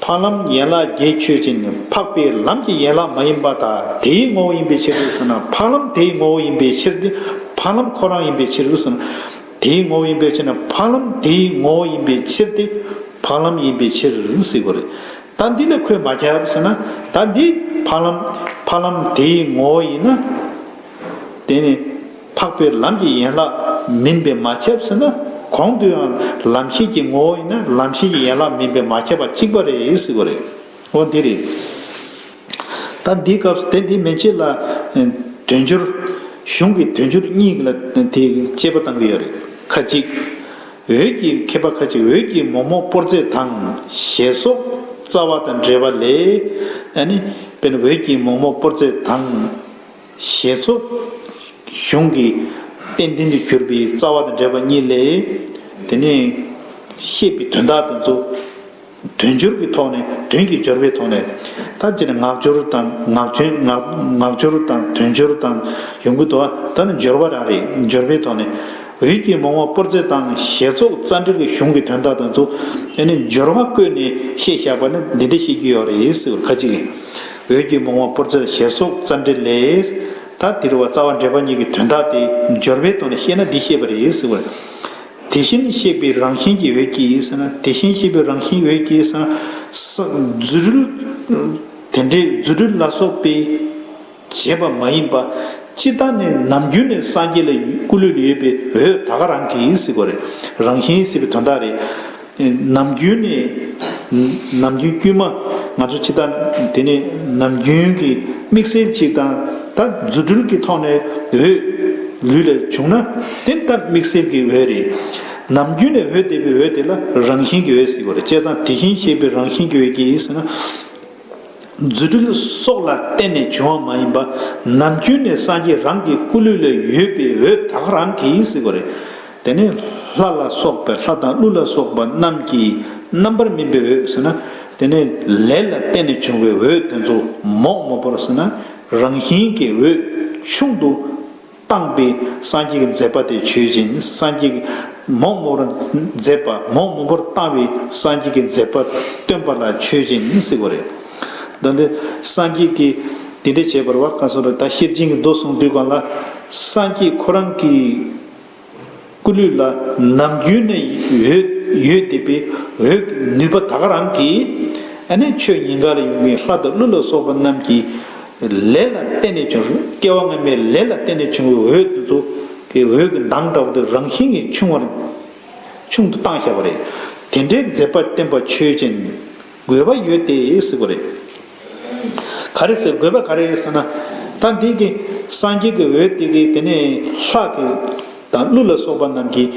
འཕགས་ལམ་ཡན་ལག་བརྒྱད་ཆོས་ཅན། འཕགས་པའི་ལམ་གྱི་ཡན་ལག་མ་ཡིན་པ་དག་དེའི་ངོ་བོ་ཡིན་པའི་ཕྱིར་རུ་ཟེར་ན་འཕགས་ལམ་དེའི་ངོ་བོ་ཡིན་པའི་ཕྱིར་ཏེ། འཕགས་ལམ་ཁོ་རང་ཡིན་པའི་ཕྱིར་རུ་ཟེར་ན། དེའི་ངོ་བོ་ཡིན་པའི་ཕྱིར་ན་འཕགས་ལམ་དེའི་ངོ་བོ་ཡིན་པའི་ཕྱིར་ཏེ། འཕགས་ལམ་ཡིན་པའི་ཕྱིར་ཟེར་དགོས་རེད། ད་འདི་ལ་ཁོས་མ་ཁྱབ་ཟེར་ན། ད་འདི་འཕགས་ལམ་འཕགས་ལམ་དེའི་ངོ་བོ་ཡིན་ན། དེ་ནི། འཕགས་པའི་ལམ་གྱི་ཡན་ལག་མིན་པས་མ་ཁྱབ་ཟེར་ན། གོང་དུ་ཡང་ལམ་ཤེས་ཀྱི་ངོ་བོ་ཡིན་ན་ལམ་ཤེས་ཀྱི་ཡན་ལག་མིན་པས་མ་ཁྱབ་པ་གཅིག་པ་རེད་ཟེར་དགོས་རེད། འོ་འདི་རེད། ད་འདིའི་སྐབས་སུ་དེ་འདི་མན་ཆད་ལ། དོན་སྦྱོར། གཞུང་གི་དོན་སྦྱོར་གཉིས་ལ་དེ་དཔྱད་པ་གཏང་གི་ཡོད་རེད། ཁ་ཅིག། འོད་ཀྱི་མཁས་པ་ཁ་ཅིག་འོད་ཀྱི་མོག་མོག་པོར་རྫས་དང། ཞེས་སོགས། རྩ་བ་དང་འབྲེལ་བ་ལས། ཨ་ནི། དཔེར་ན་འོད་ཀྱི་མོག་མོག་པོར་རྫས་དང། ཞེས་སོ། གཞུང་གི། རྟེན་བདེན་དུ་གྱུར་པའི་རྩ་བ་དང་འབྲེལ་པ་གཉིས་ལས། དེ་ནས། བཤད་པའི་དོན་དག་དེ་ཚོ། དོན་སྦྱོར་གྱི་ཐོག་ནས་དོན་གྱི་སྦྱོར་བའི་ཐོག་ནས། ད་ཅི་ནས་ངག་སྦྱོར་དང་ངག་བྱོན་ངག་སྦྱོར་དང་དོན་སྦྱོར་དང་ཡོང་གི་འདུག་ད་ནི་སྦྱོར་བ་རང་རེད་སྦྱོར་བའི་ཐོག་ནས། འོད་ཀྱིས་མོང་བ་སྤོར་ཚེ་དང་ཞེས་ཚོགས་རྩ་འགྲེལ་གྱི་གཞུང་གི་དོན་དག་དེ་ཚོ། ཨེ་ནས་སྦྱོར་བ་བཀོད་ནས་བཤད་བཞག་པ་ནི་འདི་འདྲ་བཤད་ཀྱི་ཡོད་རེད་ཟེར་བ་ཁ་ཅིག་གིས། འོད་ཀྱི་བུང་བ་པོར་འཛེར་ཞེས་སོགས་རྩ་འགྲེལ་ལས། ད་འདིར་བ་རྩ་བ་འགྲེལ་པ་གཉིས་ཀྱི་དོན་དག་དེ་སྦྱོར་བའི་དོན་ལ་བཤད་ན་འདི་ཤེས་པ་རེད་ཟེར་བ། དེ་བཞིན་གཤེགས་པའི་རང་བཞིན་གྱི་འོད་ཀྱིས་ཟེར་ན་དེ་བཞིན་གཤེགས་པའི་རང་བཞིན་འོད་ཀྱིས་ཟེར་ན། རྫུ་འཕྲུལ། དེ་འདྲའི་རྫུ་འཕྲུལ་ལ་སོགས་པས་བྱས་པ་མ་ཡིན་པ། ཅི་ལྟར་ནི་ནམ་རྒྱུན་ནས་སངས་རྒྱས་ལ་སྐུ་ལུས་ལ་ཡོད་པའི་འོད་ད་ག་རང་གིས་ཟེར་བ་རེད། རང་བཞིན་ཟེར་བའི་དོན་དག་རེད། ནམ་རྒྱུན་ནི། ནམ་རྒྱུན་དཀྱུས་མ་ང་ཚོ་ཕྱི་དར་དེ་ནི་ནམ་རྒྱུན་གྱི་དམིགས་བསལ་གཅིག་དང། ད་རྫུ་འཕྲུལ་གྱི་ཐོག་ནས་འོས། ལུས་ལ་བྱུང་ན་དེ་ལྟ་དམིགས་བསལ་གྱི་འོས་རེད། ནམ་རྒྱུན་ནས་འོས་འདེབས་པའི་འོས་དེ་ལ་རང་བཞིན་གྱི་འོས་ཟེར་བ་རེད་དཔྱད་བཟང་དེ་བཞིན་ཤེས་པའི་རང་བཞིན་གྱི་འོས་ཀྱིས་ཟེར་ན། རྫུ་འཕྲུལ་སོགས་ལ་བརྟེན་ནས་བྱུང་བ་མ་ཡིན་པ། ནམ་རྒྱུན་ནས་སངས་རྒྱས་རང་གི་སྐུ་ལུས་ལ་ཡོད་པའི་འོད་དག་རང་གིས་གཟིགས་པ་རེད། དེ་ནི་ལྷ་ལ་སོགས་པའི་ལྷ་དང་ཀླུ་ལ་སོགས་པ་རྣམས་ཀྱི་རྣམ་པར་སྨིན་པའི་འོད་ཟེར་ན། དེ་ནི་ལས་ལ་བརྟེན་ནས་བྱུང་བའི་འོད་དེ་ཚོ་མོག་མོག་པར་ཟིན་ན་རང་བཞིན་གྱིས་འོད་ཆུང་དུ། སྤངས་པའི་སངས་རྒྱས་ཀྱི་མཛད་པ་དེ་ཆོས་ཅན། སངས་རྒྱས་ཀྱི་མོག་མོག་པོར་མཛད་པ་མོག་མོག་པོར་བཏང་བའི་སངས་རྒྱས་ཀྱི་མཛད་པ་སྟོན་པ་ལ་ཆོས་ཅན་ཡིན་ཟེར་བ་རེད། ད་འདི་སངས་རྒྱས་ཀྱི་དེ་འདྲ་བྱས་པར་བ་ཀ་གསུང་རབ་ད་ཤེར་ཕྱིན་གྱི་མདོ་གསུང་དུས་གང་ལ་སངས་རྒྱས་ཁོ་རང་གིས། སྐུ་ལུས་ལ་ནམ་རྒྱུན་ནས་འོད་ཡོད་དེ་པའི་འོད་ཀྱི་ནུས་པ་དག་རང་གིས་ཆོས་ཉིད་འགགས་ལ་ཡོངས་ཀྱི་ལྷ་དང་ཀླུ་ལ་སོགས་པ་རྣམས་ཀྱི་ལས་ལ་བརྟེན་ནས་བྱུང་སྐྱེ་བ་སྔ་མའི་ལས་ལ་བརྟེན་ནས་བྱུང་བའི་འོད་དེ་ཚོ་དེ་འོད་ཀྱི་མདངས་འདྲ་བོ་དེ་རང་བཞིན་གྱིས་ཆུང་བར་ཆུང་དུ་བཏང་བཞག་པ་རེད། དེ་འདྲའི་མཛད་པ་བསྟན་པ་ཆོས་ཅན། དགོས་པ་ཡོད་དེ་ཟེར་གོ་རེད། ག་རེ་ཟེར་དགོས་པ་ག་རེད་ཟེར་ན། ད་འདི་གི་སངས་རྒྱས་ཀྱི་འོད་དེ་གིས་དེ་ནས་ལྷག་གི་དང་ཀླུ་ལ་སོགས་པ་རྣམས་ཀྱིས་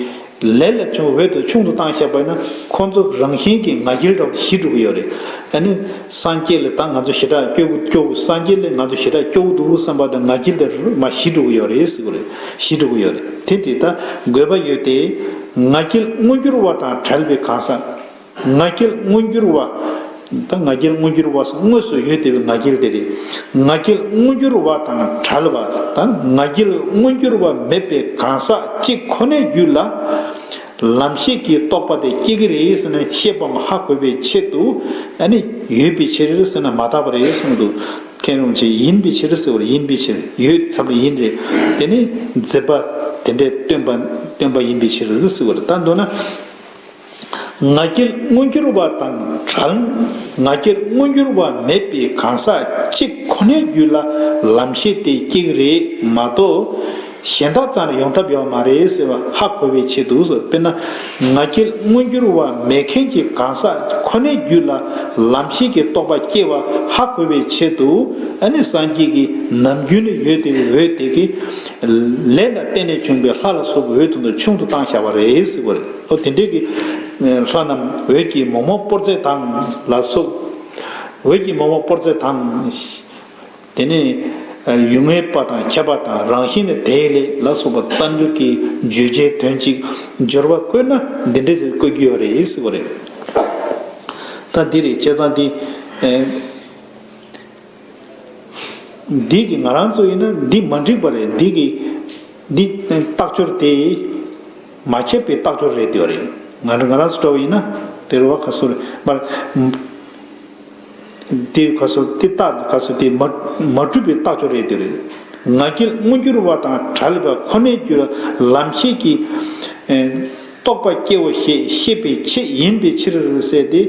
ལས་ལ་བྱུང་འོད་དུ་ཆུང་དུ་བཏང་བཞག་པས་ན་ཁོ་ཚོ་རང་བཞིན་གྱིས་ང་རྒྱལ་དྲག་ཏུ་ཞི་འགྲོ་གི་ཡོད་རེད། ད་ནི་སངས་རྒྱས་ལས་ད་ང་ཚོ་ཞི་དྲག་སྐྱོ་གི་སྐྱོ་གི་སངས་རྒྱས་ལས་ང་ཚོ་ཞི་དྲག་སྐྱོ་གི་འདུག་བསམ་པ་དང་ང་རྒྱལ་དེ་རུ་མ་ཞི་འགྲོ་གི་ཡོད་རེད་ཟེར་གོ་རེད་ཞི་འགྲོ་གི་ཡོད་རེད་དེ་དེ་ལྟ་དགོས་པ་ཡོད་དེ། ང་རྒྱལ་སྔོ་འགྱུར་བ་དང་བྲལ་བའི་གང་ཟག། ང་རྒྱལ་མངོན་འགྱུར་བ། ད་ང་རྒྱལ་མངོན་འགྱུར་བ་སོགས་དངོས་སུ་ཡོད་དེ་བས་ང་རྒྱལ་དེ་རེད། ང་རྒྱལ་མངོན་འགྱུར་བ་དང་བྲལ་བ། ད་ང་རྒྱལ་མངོན་འགྱུར་བ་མེད་པའི་གང་ཟག་གཅིག་ཁོ་ནའི་རྒྱུད་ལ། ལམ་ཤེས་ཀྱི་རྟོགས་པ་དེ་སྐྱེ་གི་རེད་ཟེར་ན་ཤེས་པའམ་ཧ་གོ་བའི་ཆེད་དུ། ཨ་ནི། ཡོད་པའི་ཕྱིར་ཟེར་ན་མ་དག་པ་རེད་གསུངས་འདུག་མཁན་རུང་ཆེ་ཡིན་པའི་ཕྱིར་ཟེར་བར་ཡིན་པའི་ཕྱིར་ཡོད་ཚབ་ལ་ཡིན་རེད་དེ་ནི། མཛད་པ་དེ་འདྲས་སྟོན་པ་སྟོན་པ་ཡིན་པའི་ཕྱིར་ཟེར་བར་ད་འདོད་ན། ང་རྒྱལ་མངོན་འགྱུར་བ་དང་བྲལ། ང་རྒྱལ་མངོན་འགྱུར་བ་མེད་པའི་གང་ཟག་གཅིག་ཁོ་ནའི་རྒྱུད་ལ་ལམ་ཤེས་དེ་གཅིག་རེད་མ་གཏོགས། གཞན་དག་ཙམ་ལ་ཡོང་ཐབས་ཡོད་མ་རེད་ཟེར་བ་ཧ་གོ་བའི་ཆེད་དུ་དཔེར་ན། ང་རྒྱལ་མངོན་འགྱུར་བ་མེད་མཁན་གྱི་གང་ཟག་ཁོ་ནའི་རྒྱུད་ལ་ལམ་ཤེས་ཀྱི་རྟོག་པ་སྐྱེ་བ་ཧ་གོ་བའི་ཆེད་དུ་ཨ་ནི་སངས་རྒྱས་ཀྱི་ནམ་རྒྱུན་ནི་ཡོད་དེ་འོད་དེ་གི། ལས་ལ་བརྟེན་ནས་བྱུང་པའི་ལྷ་ལ་སོགས་པའི་འོད་དེ་ཚོ་ཆུང་དུ་བཏང་བཞག་པ་རེད། ལྷོ་དེ་འདྲས་ཀྱི། ལྷ་རྣམས་འོད་ཀྱི་མོག་མོག་སྤོར་རྫས་དང། ལ་སོགས། འོད་ཀྱི་མོག་མོག་སྤོར་རྫས་དང། དེ་ནས། ཡུལ་ངེས་པ་དང་ཁྱད་པར་དང་རང་བཞིན་ནི་དེ་ལས་ལ་སོགས་པ་རྩ་འཇུག་གི་བརྗོད་བྱའི་དོན་གཅིག་སྦྱོར་བ་བཀོད་ན་འདི་འདྲས་ཟེར་བཀོད་རྒྱུ་ཡོད་རེད་ཟེར་བ་རེད། ད་འདི་རེད་བྱས་ཙང་འདི། འདི་གི་ང་རང་གཙོ་ཡིན་ན་འདི་མ་འགྲིག་པ་རེད་འདི་གི། འདི་ལྟག་སྦྱོར་དེ། མ་ཁྱབ་པའི་ལྟག་སྦྱོར་རེད་འདོད་རེད། ང་རང་ང་རང་ཚོ་འདྲ་བ་ཡིན་ན། དེ་རུ་བ་ཁ་སོ། མར། དེ་རུ་ཁ་སོ་དེ་ལྟག་དེ་ཁ་སོ་དེ་མ། མ་གྲུབ་པའི་ལྟག་སྦྱོར་རེད་འདོད་རེད། ང་རྒྱལ་དངོས་འགྱུར་བ་དང་དྲ་ལས་པ་ཁོ་ནའི་རྒྱུད་ལ་ལམ་ཤེས་ཀྱི། རྟོགས་པ་སྐྱེའོ་ཞེས་བཤད་པའི་ཆེད་ཡིན་པའི་ཕྱིར་ཟེར་ཏེ།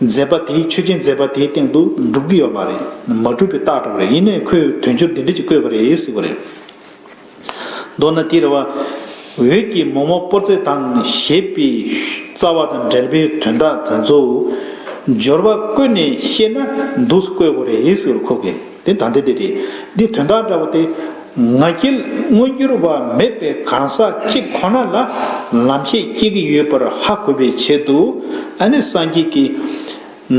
མཛད་པ་དེའི་ཆོས་ཅན་མཛད་པ་དེའི་སྟེང་དུ་སྒྲུབ་ཀྱི་ཡོད་མ་རེད། མ་སྒྲུབ་པའི་རྟགས་གྲོགས་རེད་ཡིན་ནའི་ཁོས་དོན་སྦྱོར་འདི་འདྲི་ཅིག་བཀོད་པ་རེད་ཟེར་བ་རེད། མདོར་ན་དེ་རེད་བ། འོད་ཀྱི་མོག་མོག་པོར་ཚེ་དང་བཞད་པའི་རྩ་བ་དང་འབྲེལ་པའི་དོན་དག་དེ་ཚོ། སྦྱོར་བ་བཀོད་ནས་བཤད་ན་འདུག་སྐོས་བོ་རེད་ཟེར་བར་ཁོ་གས། འདི་དང་འདི་འདི་རེད། འདི་དོན་དག་འདྲ་བོ་སྟེ། ང་རྒྱལ་མངོན་འགྱུར་བ་མེད་པའི་གང་ཟག་གཅིག་ཁོ་ན་ལ་ལམ་ཤེས་སྐྱེ་གི་ཡོད་པར་ཧ་གོ་བའི་ཆེད་དུ་ཨ་ནི་སངས་རྒྱས་ཀྱི་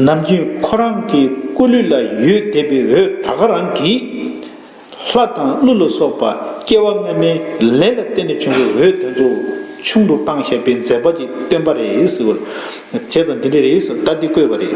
ནམ་རྒྱུན་ཁོ་རང་གི་སྐུ་ལུས་ལ་ཡོད་བསྡད་པའི་འོད་ད་ག་རང་གིས་ལྷ་དང་ཀླུ་ལ་སོགས་པ་སྐྱེ་བ་སྔ་མའི་ལས་ལ་བརྟེན་ནས་བྱུང་བའི་འོད་དེ་ཚོ་ཆུང་དུ་བཏང་བཞག་པའི་མཛད་པ་ཅིག་སྟོན་པ་རེད། བྱས་ཙང་འདི་འདྲ་རེད། ད་འདི་བཀོད་པ་རེད།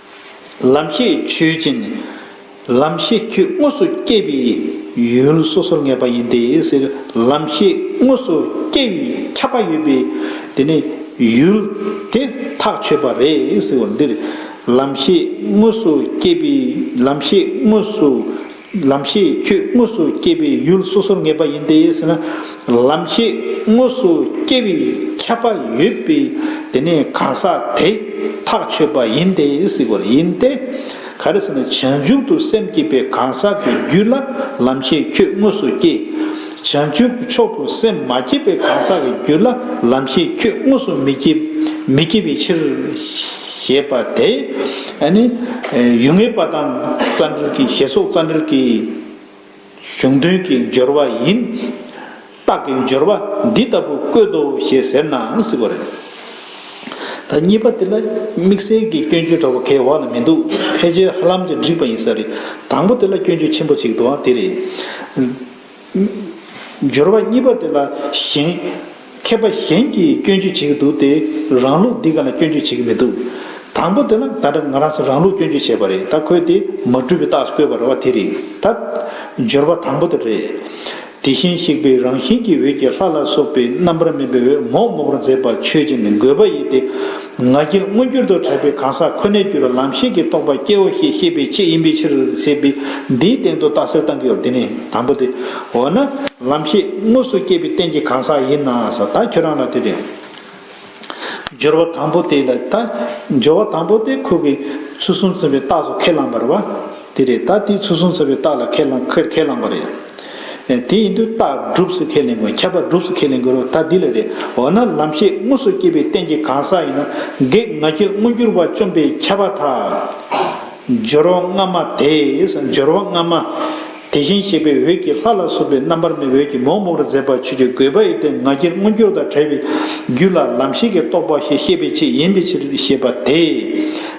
ལམ་ཤེས་ཆོས་ཅན། ལམ་ཤེས་ཁྱོད་དངོས་སུ་སྐྱེས་པའི་ཡུལ་སོ་སོར་ངེས་པ་ཡིན་ཏེ་ཟེར། ལམ་ཤེས་དངོས་སུ་སྐྱེ་བའི་ཁྱབ་པ་ཡོད་པས་དེ་ནི་ཡུལ་དེ་ཐག་ཆོད་པ་རེད་ཟེར་བ་འདིར། ལམ་ཤེས་དངོས་སུ་སྐྱེས་པའི་ལམ་ཤེས་དངོས་སུ། ལམ་ཤེས་ཁྱོད་དངོས་སུ་སྐྱེ་བའི་ཡུལ་སོ་སོར་ངེས་པ་ཡིན་ཏེ་ཟེར་ན། ལམ་ཤེས་དངོས་སུ་སྐྱེ་བའི་ཁྱད་པར་ཡོད་པས་དེ་ནི་གང་ཟག་དེས་ཐག་ཆོད་པ་ཡིན་ཏེ་ཟེར་བ་ཡིན་ཏེ། ག་རེ་ཟེར་ན་བྱང་ཆུབ་ཏུ་སེམས་བསྐྱེད་པའི་གང་ཟག་གི་རྒྱུད་ལ་ལམ་ཤེས་ཁྱོད་དངོས་སུ་སྐྱེ། བྱང་ཆུབ་ཀྱི་མཆོག་ཏུ་སེམས་མ་བསྐྱེད་པའི་གང་ཟག་གི་རྒྱུད་ལ་ལམ་ཤེས་ཁྱོད་དངོས་སུ་མི་སྐྱེ་བའི་ཕྱིར། ཞེས་པ་དེ་ནི་ཡུལ་ངེས་པ་དང་རྩ་འགྲེལ་གྱི་ཞེས་སོགས་རྩ་འགྲེལ་གྱི་གཞུང་དོན་གྱི་སྦྱོར་བ་ཡིན། རྟགས་ཀྱི་སྦྱོར་བ་འདི་ལྟ་བུ་བཀོད་དོ་ཞེས་ཟེར་ནའང་སྲིད་པ་རེད། ད་གཉིས་པ་དེ་ལ་དམིགས་བསལ་གྱི་སྐྱོན་བརྗོད་འདྲ་བོ་ཁའི་འོག་ན་མི་འདུག་ཕལ་ཆེར་ཧ་ལམ་གྱི་འགྲིག་པ་ཡིན་ས་རེད། དང་པོ་དེ་ལ་སྐྱོན་བརྗོད་ཆེན་པོ་གཅིག་འདུག་ཨང་དེ་རེད། སྦྱོར་བ་གཉིས་པ་དེ་ལ་གཞན། མཁས་པ་གཞན་གྱིས་སྐྱོན་བརྗོད་བྱེད་ཀྱི་འདུག་སྟེ། རང་ལུགས་འདི་ག་ལ་སྐྱོན་བརྗོད་བྱེད་ཀྱི་མི་འདུག། དང་པོ་དེ་ལ་ད་དྲག་ང་རང་སོ་རང་ལུགས་སྐྱོན་བརྗོད་བྱས་པ་རེད་ད་ཁོས་དེ་མ་བཀྲུས་པའི་རྟགས་སུ་བཀོད་པ་རེད་བ་དེ་རེད་ད། སྦྱོར་བ་དང་པོ་དེ་རེད། དེ་བཞིན་གཤེགས་པའི་རང་བཞིན་གྱི་འོད་ཀྱིས་ལྷ་ལ་སོགས་པའི་རྣམ་པར་སྨིན་པའི་འོད་མོག་མོག་པར་མཛད་པ་ཆོས་ཅན་དགོས་པ་ཡིན་ཏེ། ང་རྒྱལ་མངོན་གྱུར་དུ་བྲལ་བའི་གང་ཟག་ཁོ་ནའི་རྒྱུད་ལ་ལམ་ཤེས་ཀྱི་རྟོགས་པ་སྐྱེའོ་ཞེས་བཤད་པའི་ཆེད་ཡིན་པའི་ཕྱིར་ཟེར་བས་འདིའི་སྟེང་དུ་རྟགས་གསལ་བཏང་གིའོ་དེ་ནི་དང་པོ་སྟེ། འོ་ན། ལམ་ཤེས་དངོས་སུ་སྐྱེས་པའི་རྟེན་གྱི་གང་ཟག་ཡིན་ན་ས་ད་ཁྱོད་རང་ལ་དེ་རེད། སྦྱོར་བ་དང་པོ་དེ་ལ་ད། སྦྱོར་བ་དང་པོ་དེ་ཁོ་བོས་ཚུལ་གསུམ་མཚོན་པའི་རྟགས་སུ་ཁས་བླངས་པར་བ། དེ་རེད་ད་དེའི་ཚུལ་གསུང་ཟེར་བའི་རྟགས་ལ་ཁས་བླངས་ཁས་བླངས་པ་རེད། ཨེ་དེ་ཡིན་དུས་རྟགས་སྒྲུབ་ཟེར་ཁས་ལེན་དགོས་ཁྱད་པར་སྒྲུབ་ཟེར་ཁས་ལེན་དགོས་རོགས་ད་འདི་ལ་རེད་འོ་ན་ལམ་ཤེས་དངོས་སུ་སྐྱེས་པའི་རྟེན་གྱི་གང་ཟག་ཡིན་ན་བགེགས་ང་རྒྱལ་མངོན་གྱུར་པ་བཅོམ་པའི་ཁྱད་པར་དག། སྦྱོར་བ་སྔ་མ་དེས་སྦྱོར་བ་སྔ་མ། དེ་བཞིན་གཤེགས་པའི་འོད་ཀྱིས་ལྷ་ལ་སོགས་པའི་རྣམ་པར་སྨིན་འོད་ཀྱིས་མོག་མོག་རུ་མཛད་པ་ཆོས་ཀྱི་དགོས་པ་ཡི་རྟེན་ང་རྒྱལ་མངོན་གྱུར་དང་བྲལ་བའི་རྒྱུད་ལ་ལམ་ཤེས་ཀྱི་རྟོགས་པ་ཞེས་བཤད་པའི་ཆེད་ཡིན་པའི་ཕྱིར་ཞེས་པ་དེས།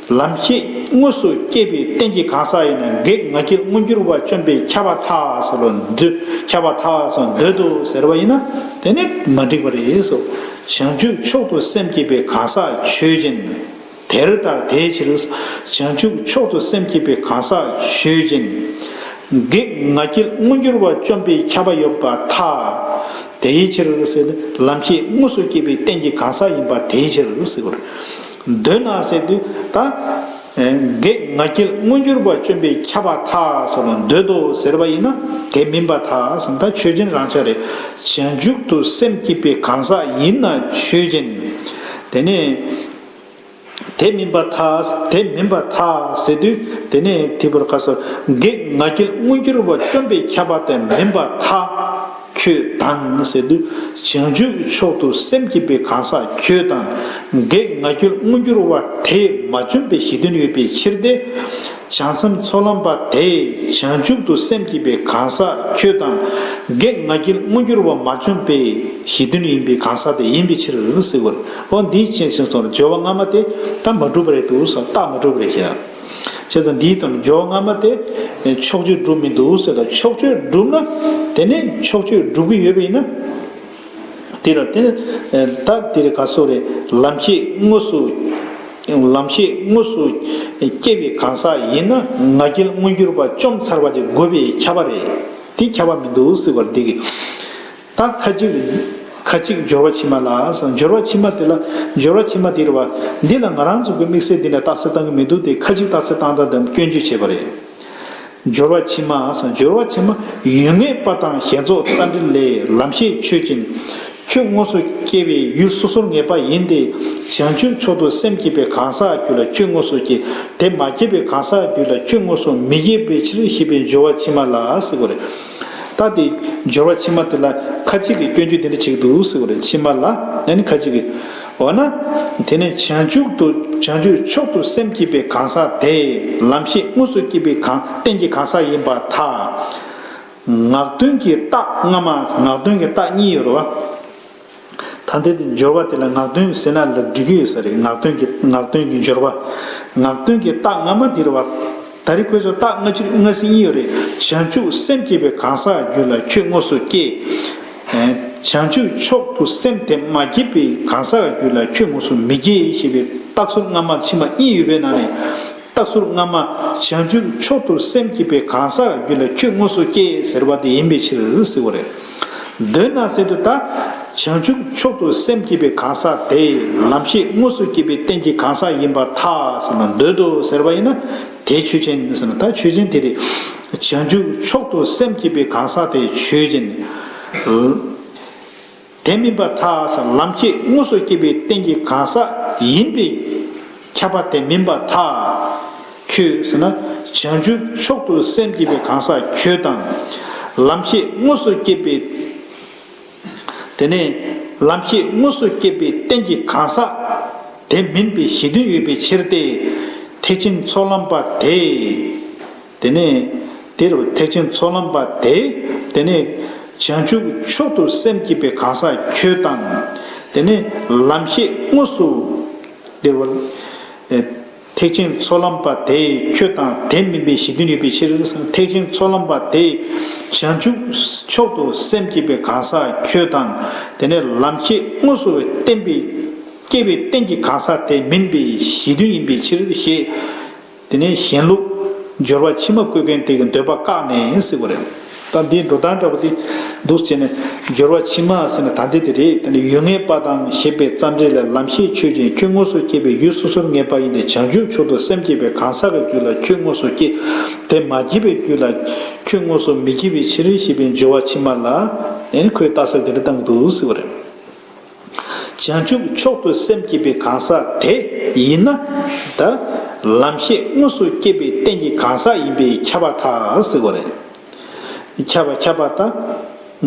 ལམ་ཤེས་དངོས་སུ་སྐྱེས་པའི་རྟེན་གྱི་གང་ཟག་ཡིན་ན་བགེགས་ང་རྒྱལ་མངོན་གྱུར་བ་བཅོམ་པས་ཁྱབ་པ་ཐག་བཟོ་ལོ་འདོད་ཁྱབ་པ་ཐག་བཟོ་འདོད་དོ་ཟེར་བ་ཡིན་ན་དེ་ནི་མ་འགྲིག་པ་རེད་སོ། བྱང་ཆུབ་མཆོག་ཏུ་སེམས་བསྐྱེད་པའི་གང་ཟག་ཆོས་ཅན། དེར་ལྟར་དེའི་ཕྱིར། བྱང་ཆུབ་མཆོག་ཏུ་སེམས་བསྐྱེད་པའི་གང་ཟག་ཆོས་ཅན། བགེགས་ང་རྒྱལ་མངོན་གྱུར་བ་བཅོམ་པས་ཁྱབ་པ་ཡོད་པ་ཐག། དེའི་ཕྱིར། ལམ་ཤེས་དངོས་སུ་སྐྱེས་པའི་རྟེན་གྱི་གང་ཟག་ཡིན་པ་དེའི་ཕྱིར། མདོས་ནག་གསེར་དུ་ད། བགེགས་ང་རྒྱལ་མངོན་གྱུར་པ་བཅོམ་པའི་ཁྱབ་པ་དག་སོགས་ལ་མདོས་དོ་ཟེར་བ་ཡིན་ན་དེ་མིན་པ་དག་ད་ཆོས་ཅན་རང་ཆ་རེད། བྱང་མཇུག་ཏུ་སེམས་བསྐྱེད་པའི་གང་ཟག་ཡིན་ན་ཆོས་ཅན། དེ་ནས། དེ་མིན་པ་དག་དེ་མིན་པ་དག་ཟེར་དུས་དེ་ནས་དེ་བར་ག་ས་བགེགས་ང་རྒྱལ་མངོན་གྱུར་པ་བཅོམ་པའི་ཁྱབ་པ་དེ་མིན་པ་དག། ཁྱོད་དང་ཟེར་དུས་བྱང་ཆུབ་ཀྱི་མཆོག་ཏུ་སེམས་བསྐྱེད་པའི་གང་ཟག་ཁྱོད་དང། བགེགས་ང་ཁྱོད་མངོན་གྱུར་བ་དེས་མ་བྱོན་པའི་གཞི་དོན་ཡོད་པའི་ཕྱིར་ཏེ། བྱང་སེམས་ཚོགས་ལམ་པ་དེས་བྱང་ཆུབ་ཏུ་སེམས་བསྐྱེད་པའི་གང་ཟག་ཁྱོད་དང། བགེགས་ང་ཁྱེད་མངོན་གྱུར་བ་མ་བྱོན་པའི་གཞི་དོན་ཡིན་པའི་གང་ཟག་དེ་ཡིན་པའི་ཕྱིར་ཟེར། འོ་འདིའི་ཕྱིར་ཞེས་སོགས་ལ་སྦྱོར་བ་སྔ་མ་དེ་དག་མ་གྲུབ་པ་རེད་དོ་ཞེས་བཏགས་མ་གྲུབ་པ་རེད་ཞེ། བྱས་ཙང་འདིའི་དོན་འཇོག་སྔ་མ་དེ། ཕྱོགས་ཆོས་སྒྲུབ་མི་འདུག་ཟེར་ལ་ཕྱོགས་ཆོས་སྒྲུབ་ན། དེ་ནས་ཕྱོགས་ཆོས་སྒྲུབ་ཀྱི་ཡོད་པ་ཡིན་ན། དེ་ལ་དེ། ད་དེ་རེ་ག་སོགས་རེད་ལམ་ཤེས་དངོས་སུ། ལམ་ཤེས་དངོས་སུ། སྐྱེ་བའི་གང་ཟག་ཡིན་ན་ང་རྒྱལ་མངོན་གྱུར་པ་བཅོམ་ཚར་བ་དེ་དགོས་པའི་ཁྱབ་པ་རེད་དེ་ཁྱབ་པ་མི་འདུག་ཟེར་བར་འདི་གི། དང་ཁ་ཅིག། ཁ་ཅིག་སྦྱོར་བ་ཕྱི་མ་ལ། སྦྱོར་བ་ཕྱི་མ་དེ་ལ། སྦྱོར་བ་ཕྱི་མ་དེ་རེད་བ། འདི་ལ་ང་རང་ཚུགས་པའི་དམིགས་བསལ་འདི་ནས་རྟགས་གསལ་བཏང་གི་མི་འདུག་སྟེ་ཁ་ཅིག་རྟགས་གསལ་བཏང་སྟངས་དེ་སྐྱོན་བརྗོད་བྱས་པ་རེད། སྦྱོར་བ་ཕྱི་མ། སྦྱོར་བ་ཕྱི་མ། ཡུལ་ངེས་པ་དང་ཞེན་རྫོགས་རྩ་འདྲི་ལས་ལམ་ཤེས་ཆོས་ཅན། ཁྱོད་དངོས་སུ་སྐྱེ་བའི་ཡུལ་སོ་སོར་ངེས་པ་ཡིན་ཏེ། བྱང་ཆུབ་མཆོག་ཏུ་སེམས་བསྐྱེད་པའི་གང་ཟག་རྒྱུད་ལ་ཁྱོད་དངོས་སུ་སྐྱེ། དེ་མ་སྐྱེས་པའི་གང་ཟག་རྒྱུད་ལ་ཁྱོད་དངོས་སུ་མི་སྐྱེ་བའི་ཕྱིར་ཞེས་པའི་སྦྱོར་བ་ཕྱི་མ་ལ་ཟེར་བ་རེད། ལྟ་སྟེ། སྦྱོར་བ་ཕྱི་མ་དེ་ལ་ཁ་ཅིག་གིས་སྐྱོན་བརྗོད་འདི་འདྲ་བྱེད་དུ་གསོལ་བ་ལས་ཕྱི་མ་ལ་ཡང་ནི་ཁ་ཅིག་གིས། འོ་ན། དེ་ནི་བྱང་ཆུབ་ཏུ་བྱང་ཆུབ་མཆོག་ཏུ་སེམས་བསྐྱེད་པའི་གང་ཟག་དེ། ལམ་ཤེས་དངོས་སུ་བསྐྱེད་པའི་གང་རྟེན་གྱི་གང་ཟག་ཡིན་པ་དག། ངག་དོན་གྱི་རྟགས་སྔ་མ་ངག་དོན་གྱི་རྟགས་གཉིས་ཡོད་རོ། ད་འདི་དེ་སྦྱོར་བ་དེ་ལ་ངག་འདོན་ཟེར་ན་ལ་འགྲིག་གི་ཡོད་ས་རེད་ངག་འདོན་གྱི་ངག་འདོན་གྱི་སྦྱོར་བ། ངག་འདོན་གྱི་རྟགས་སྔ་མ་འདིར་བ། ད་རི་ཁོས་ཚོ་རྟགས་སྔ་ཕྱིར་སྔ་ཟིན་གཉིས་ཡོད་རེད་བྱང་ཆུབ་སེམས་བསྐྱེད་པའི་གང་ཟག་རྒྱུད་ལ་ཁྱོད་དངོས་སུ་སྐྱེ། བྱང་ཆུབ་མཆོག་ཏུ་སེམས་དེ་མ་བསྐྱེད་པའི་གང་ཟག་རྒྱུད་ལ་ཁྱོད་དངོས་སུ་མི་སྐྱེ་ཞེས་པའི་རྟགས་ཟུར་སྔ་མ་ཕྱི་མ་གཉིས་ཡོད་པའི་ནང་ནས། རྟག་ཟུར་སྔ་མ། བྱང་ཆུབ་མཆོག་ཏུ་སེམས་བསྐྱེད་པའི་གང་ཟག་གི་རྒྱུད་ལ་ཁྱོད་དངོས་སུ་སྐྱེ་ཟེར་བ་དེ་ཡིན་པའི་ཕྱིར་ཟེར་བ་རེད། འདོད་ན་ཟེར་དུ་དང། བྱང་ཆུབ་མཆོག་ཏུ་སེམས་བསྐྱེད་པའི་གང་ཟག་དེ་ལམ་ཤེས་དངོས་སུ་སྐྱེས་པའི་རྟེན་གྱི་གང་ཟག་ཡིན་པར་ཐལ་ཟེར་ན་འདོད་དོ་ཟེར་བ་ཡིན་ན་དེ་ཆོས་ཅན་ཟེར་ན་ད་ཆོས་ཅན་དེ་རེད། བྱང་ཆུབ་མཆོག་ཏུ་སེམས་བསྐྱེད་པའི་གང་ཟག་དེ་ཆོས་ཅན། དེ་མིན་པ་དག་སར་ལམ་ཁྱད་དངོས་སུ་སྐྱེད་པའི་རྟེན་གྱི་གང་ཟག་ཡིན་པས། ཁྱབ་པ་དེ་མིན་པ་དག་ཁྱོད། བྱང་ཆུབ་མཆོག་ཏུ་སེམས་བསྐྱེད་པའི་གང་ཟག་ཁྱོད་དང། ལམ་ཁྱད་དངོས་སུ་སྐྱེད་པའི། དེ་ནས་ལམ་ཁྱད་དངོས་སུ་སྐྱེད་པའི་རྟེན་གྱི་གང་ཟག་དེ་མིན་པའི་གཞི་མཐུན་ཡོད་པའི་ཕྱིར་ཏེ། ཐེག་ཆེན་ཚོགས་ལམ་པ་དེས། དེ་ནས་དེ་རུ་ཐེག་ཆེན་ཚོགས་ལམ་པ་དེས་དེ་ནས། བྱང་ཆུབ་མཆོག་ཏུ་སེམས་བསྐྱེད་པའི་གང་ཟག་ཁྱོད་དང། དེ་ནས་ལམ་ཤེས་དངོས་སུ། འདིར་བ། ཐེག་ཆེན་ཚོགས་ལམ་པ་དེས་ཁྱོད་དང་དེ་མིན་པའི་གཞི་མཐུན་ཡོད་པའི་ཕྱིར། ཐེག་ཆེན་ཚོགས་ལམ་པ་དེས་བྱང་ཆུབ་མཆོག་ཏུ་སེམས་བསྐྱེད་པའི་གང་ཟག་ཁྱོད་དང། དེ་ནས་ལམ་ཤེས་དངོས་སུ་བསྟན་པའི། བསྐྱེད་པའི་རྟེན་གྱི་གང་ཟག་དེ་མིན་པའི་གཞི་མཐུན་ཡིན་པའི་ཕྱིར་ཞེས། དེ་ནས་གཞན་ལུགས། སྦྱོར་བ་ཕྱི་མ་བཀོད་མཁན་དེ་གི་འདོད་པ་བཀག་ནས་ཡིན་སྲིད་པ་རེད། ད་འདིའི་འགྲོ་སྟངས་འདྲ་པོ་དེ། འདུག་བྱས་ནས། སྦྱོར་བ་ཕྱི་མ་ཟེར་ན་ད་འདི་དེ་རེད་དེ་ནི་ཡུལ་ངེས་པ་དང་ཞེས་པའི་རྩ་འགྲེལ་ལས་ལམ་ཤེས་ཆོས་ཅན་ཁྱོད་དངོས་སུ་སྐྱེས་པའི་ཡུལ་སོ་སོར་ངེས་པ་ཡིན་ཏེ་བྱང་ཆུབ་མཆོག་ཏུ་སེམས་བསྐྱེད་པའི་གང་ཟག་གི་རྒྱུད་ལ་ཁྱོད་དངོས་སུ་སྐྱེ། དེ་མ་སྐྱེས་པའི་རྒྱུད་ལ། ཁྱོད་དངོས་སུ་མི་སྐྱེ་བའི་ཕྱིར་ཞེས་པའི་སྦྱོར་བ་ཕྱི་མ་ལ། ཡང་ཁོའི་རྟགས་གསལ་དེ་འདྲ་བཏང་གི་འདུག་སྲིད་པ་རེད། བྱང་ཆུབ་མཆོག་ཏུ་སེམས་བསྐྱེད་པའི་གང་ཟག་དེ་ཡིན་ན། ད་ལམ་ཤེས་དངོས་སུ་བསྐྱེད་པའི་རྟེན་གྱི་གང་ཟག་ཡིན་པས་ཁྱབ་པ་ཐག་ཟིག་གོ། ཁྱབ་པ་ཁྱབ་པ་ད་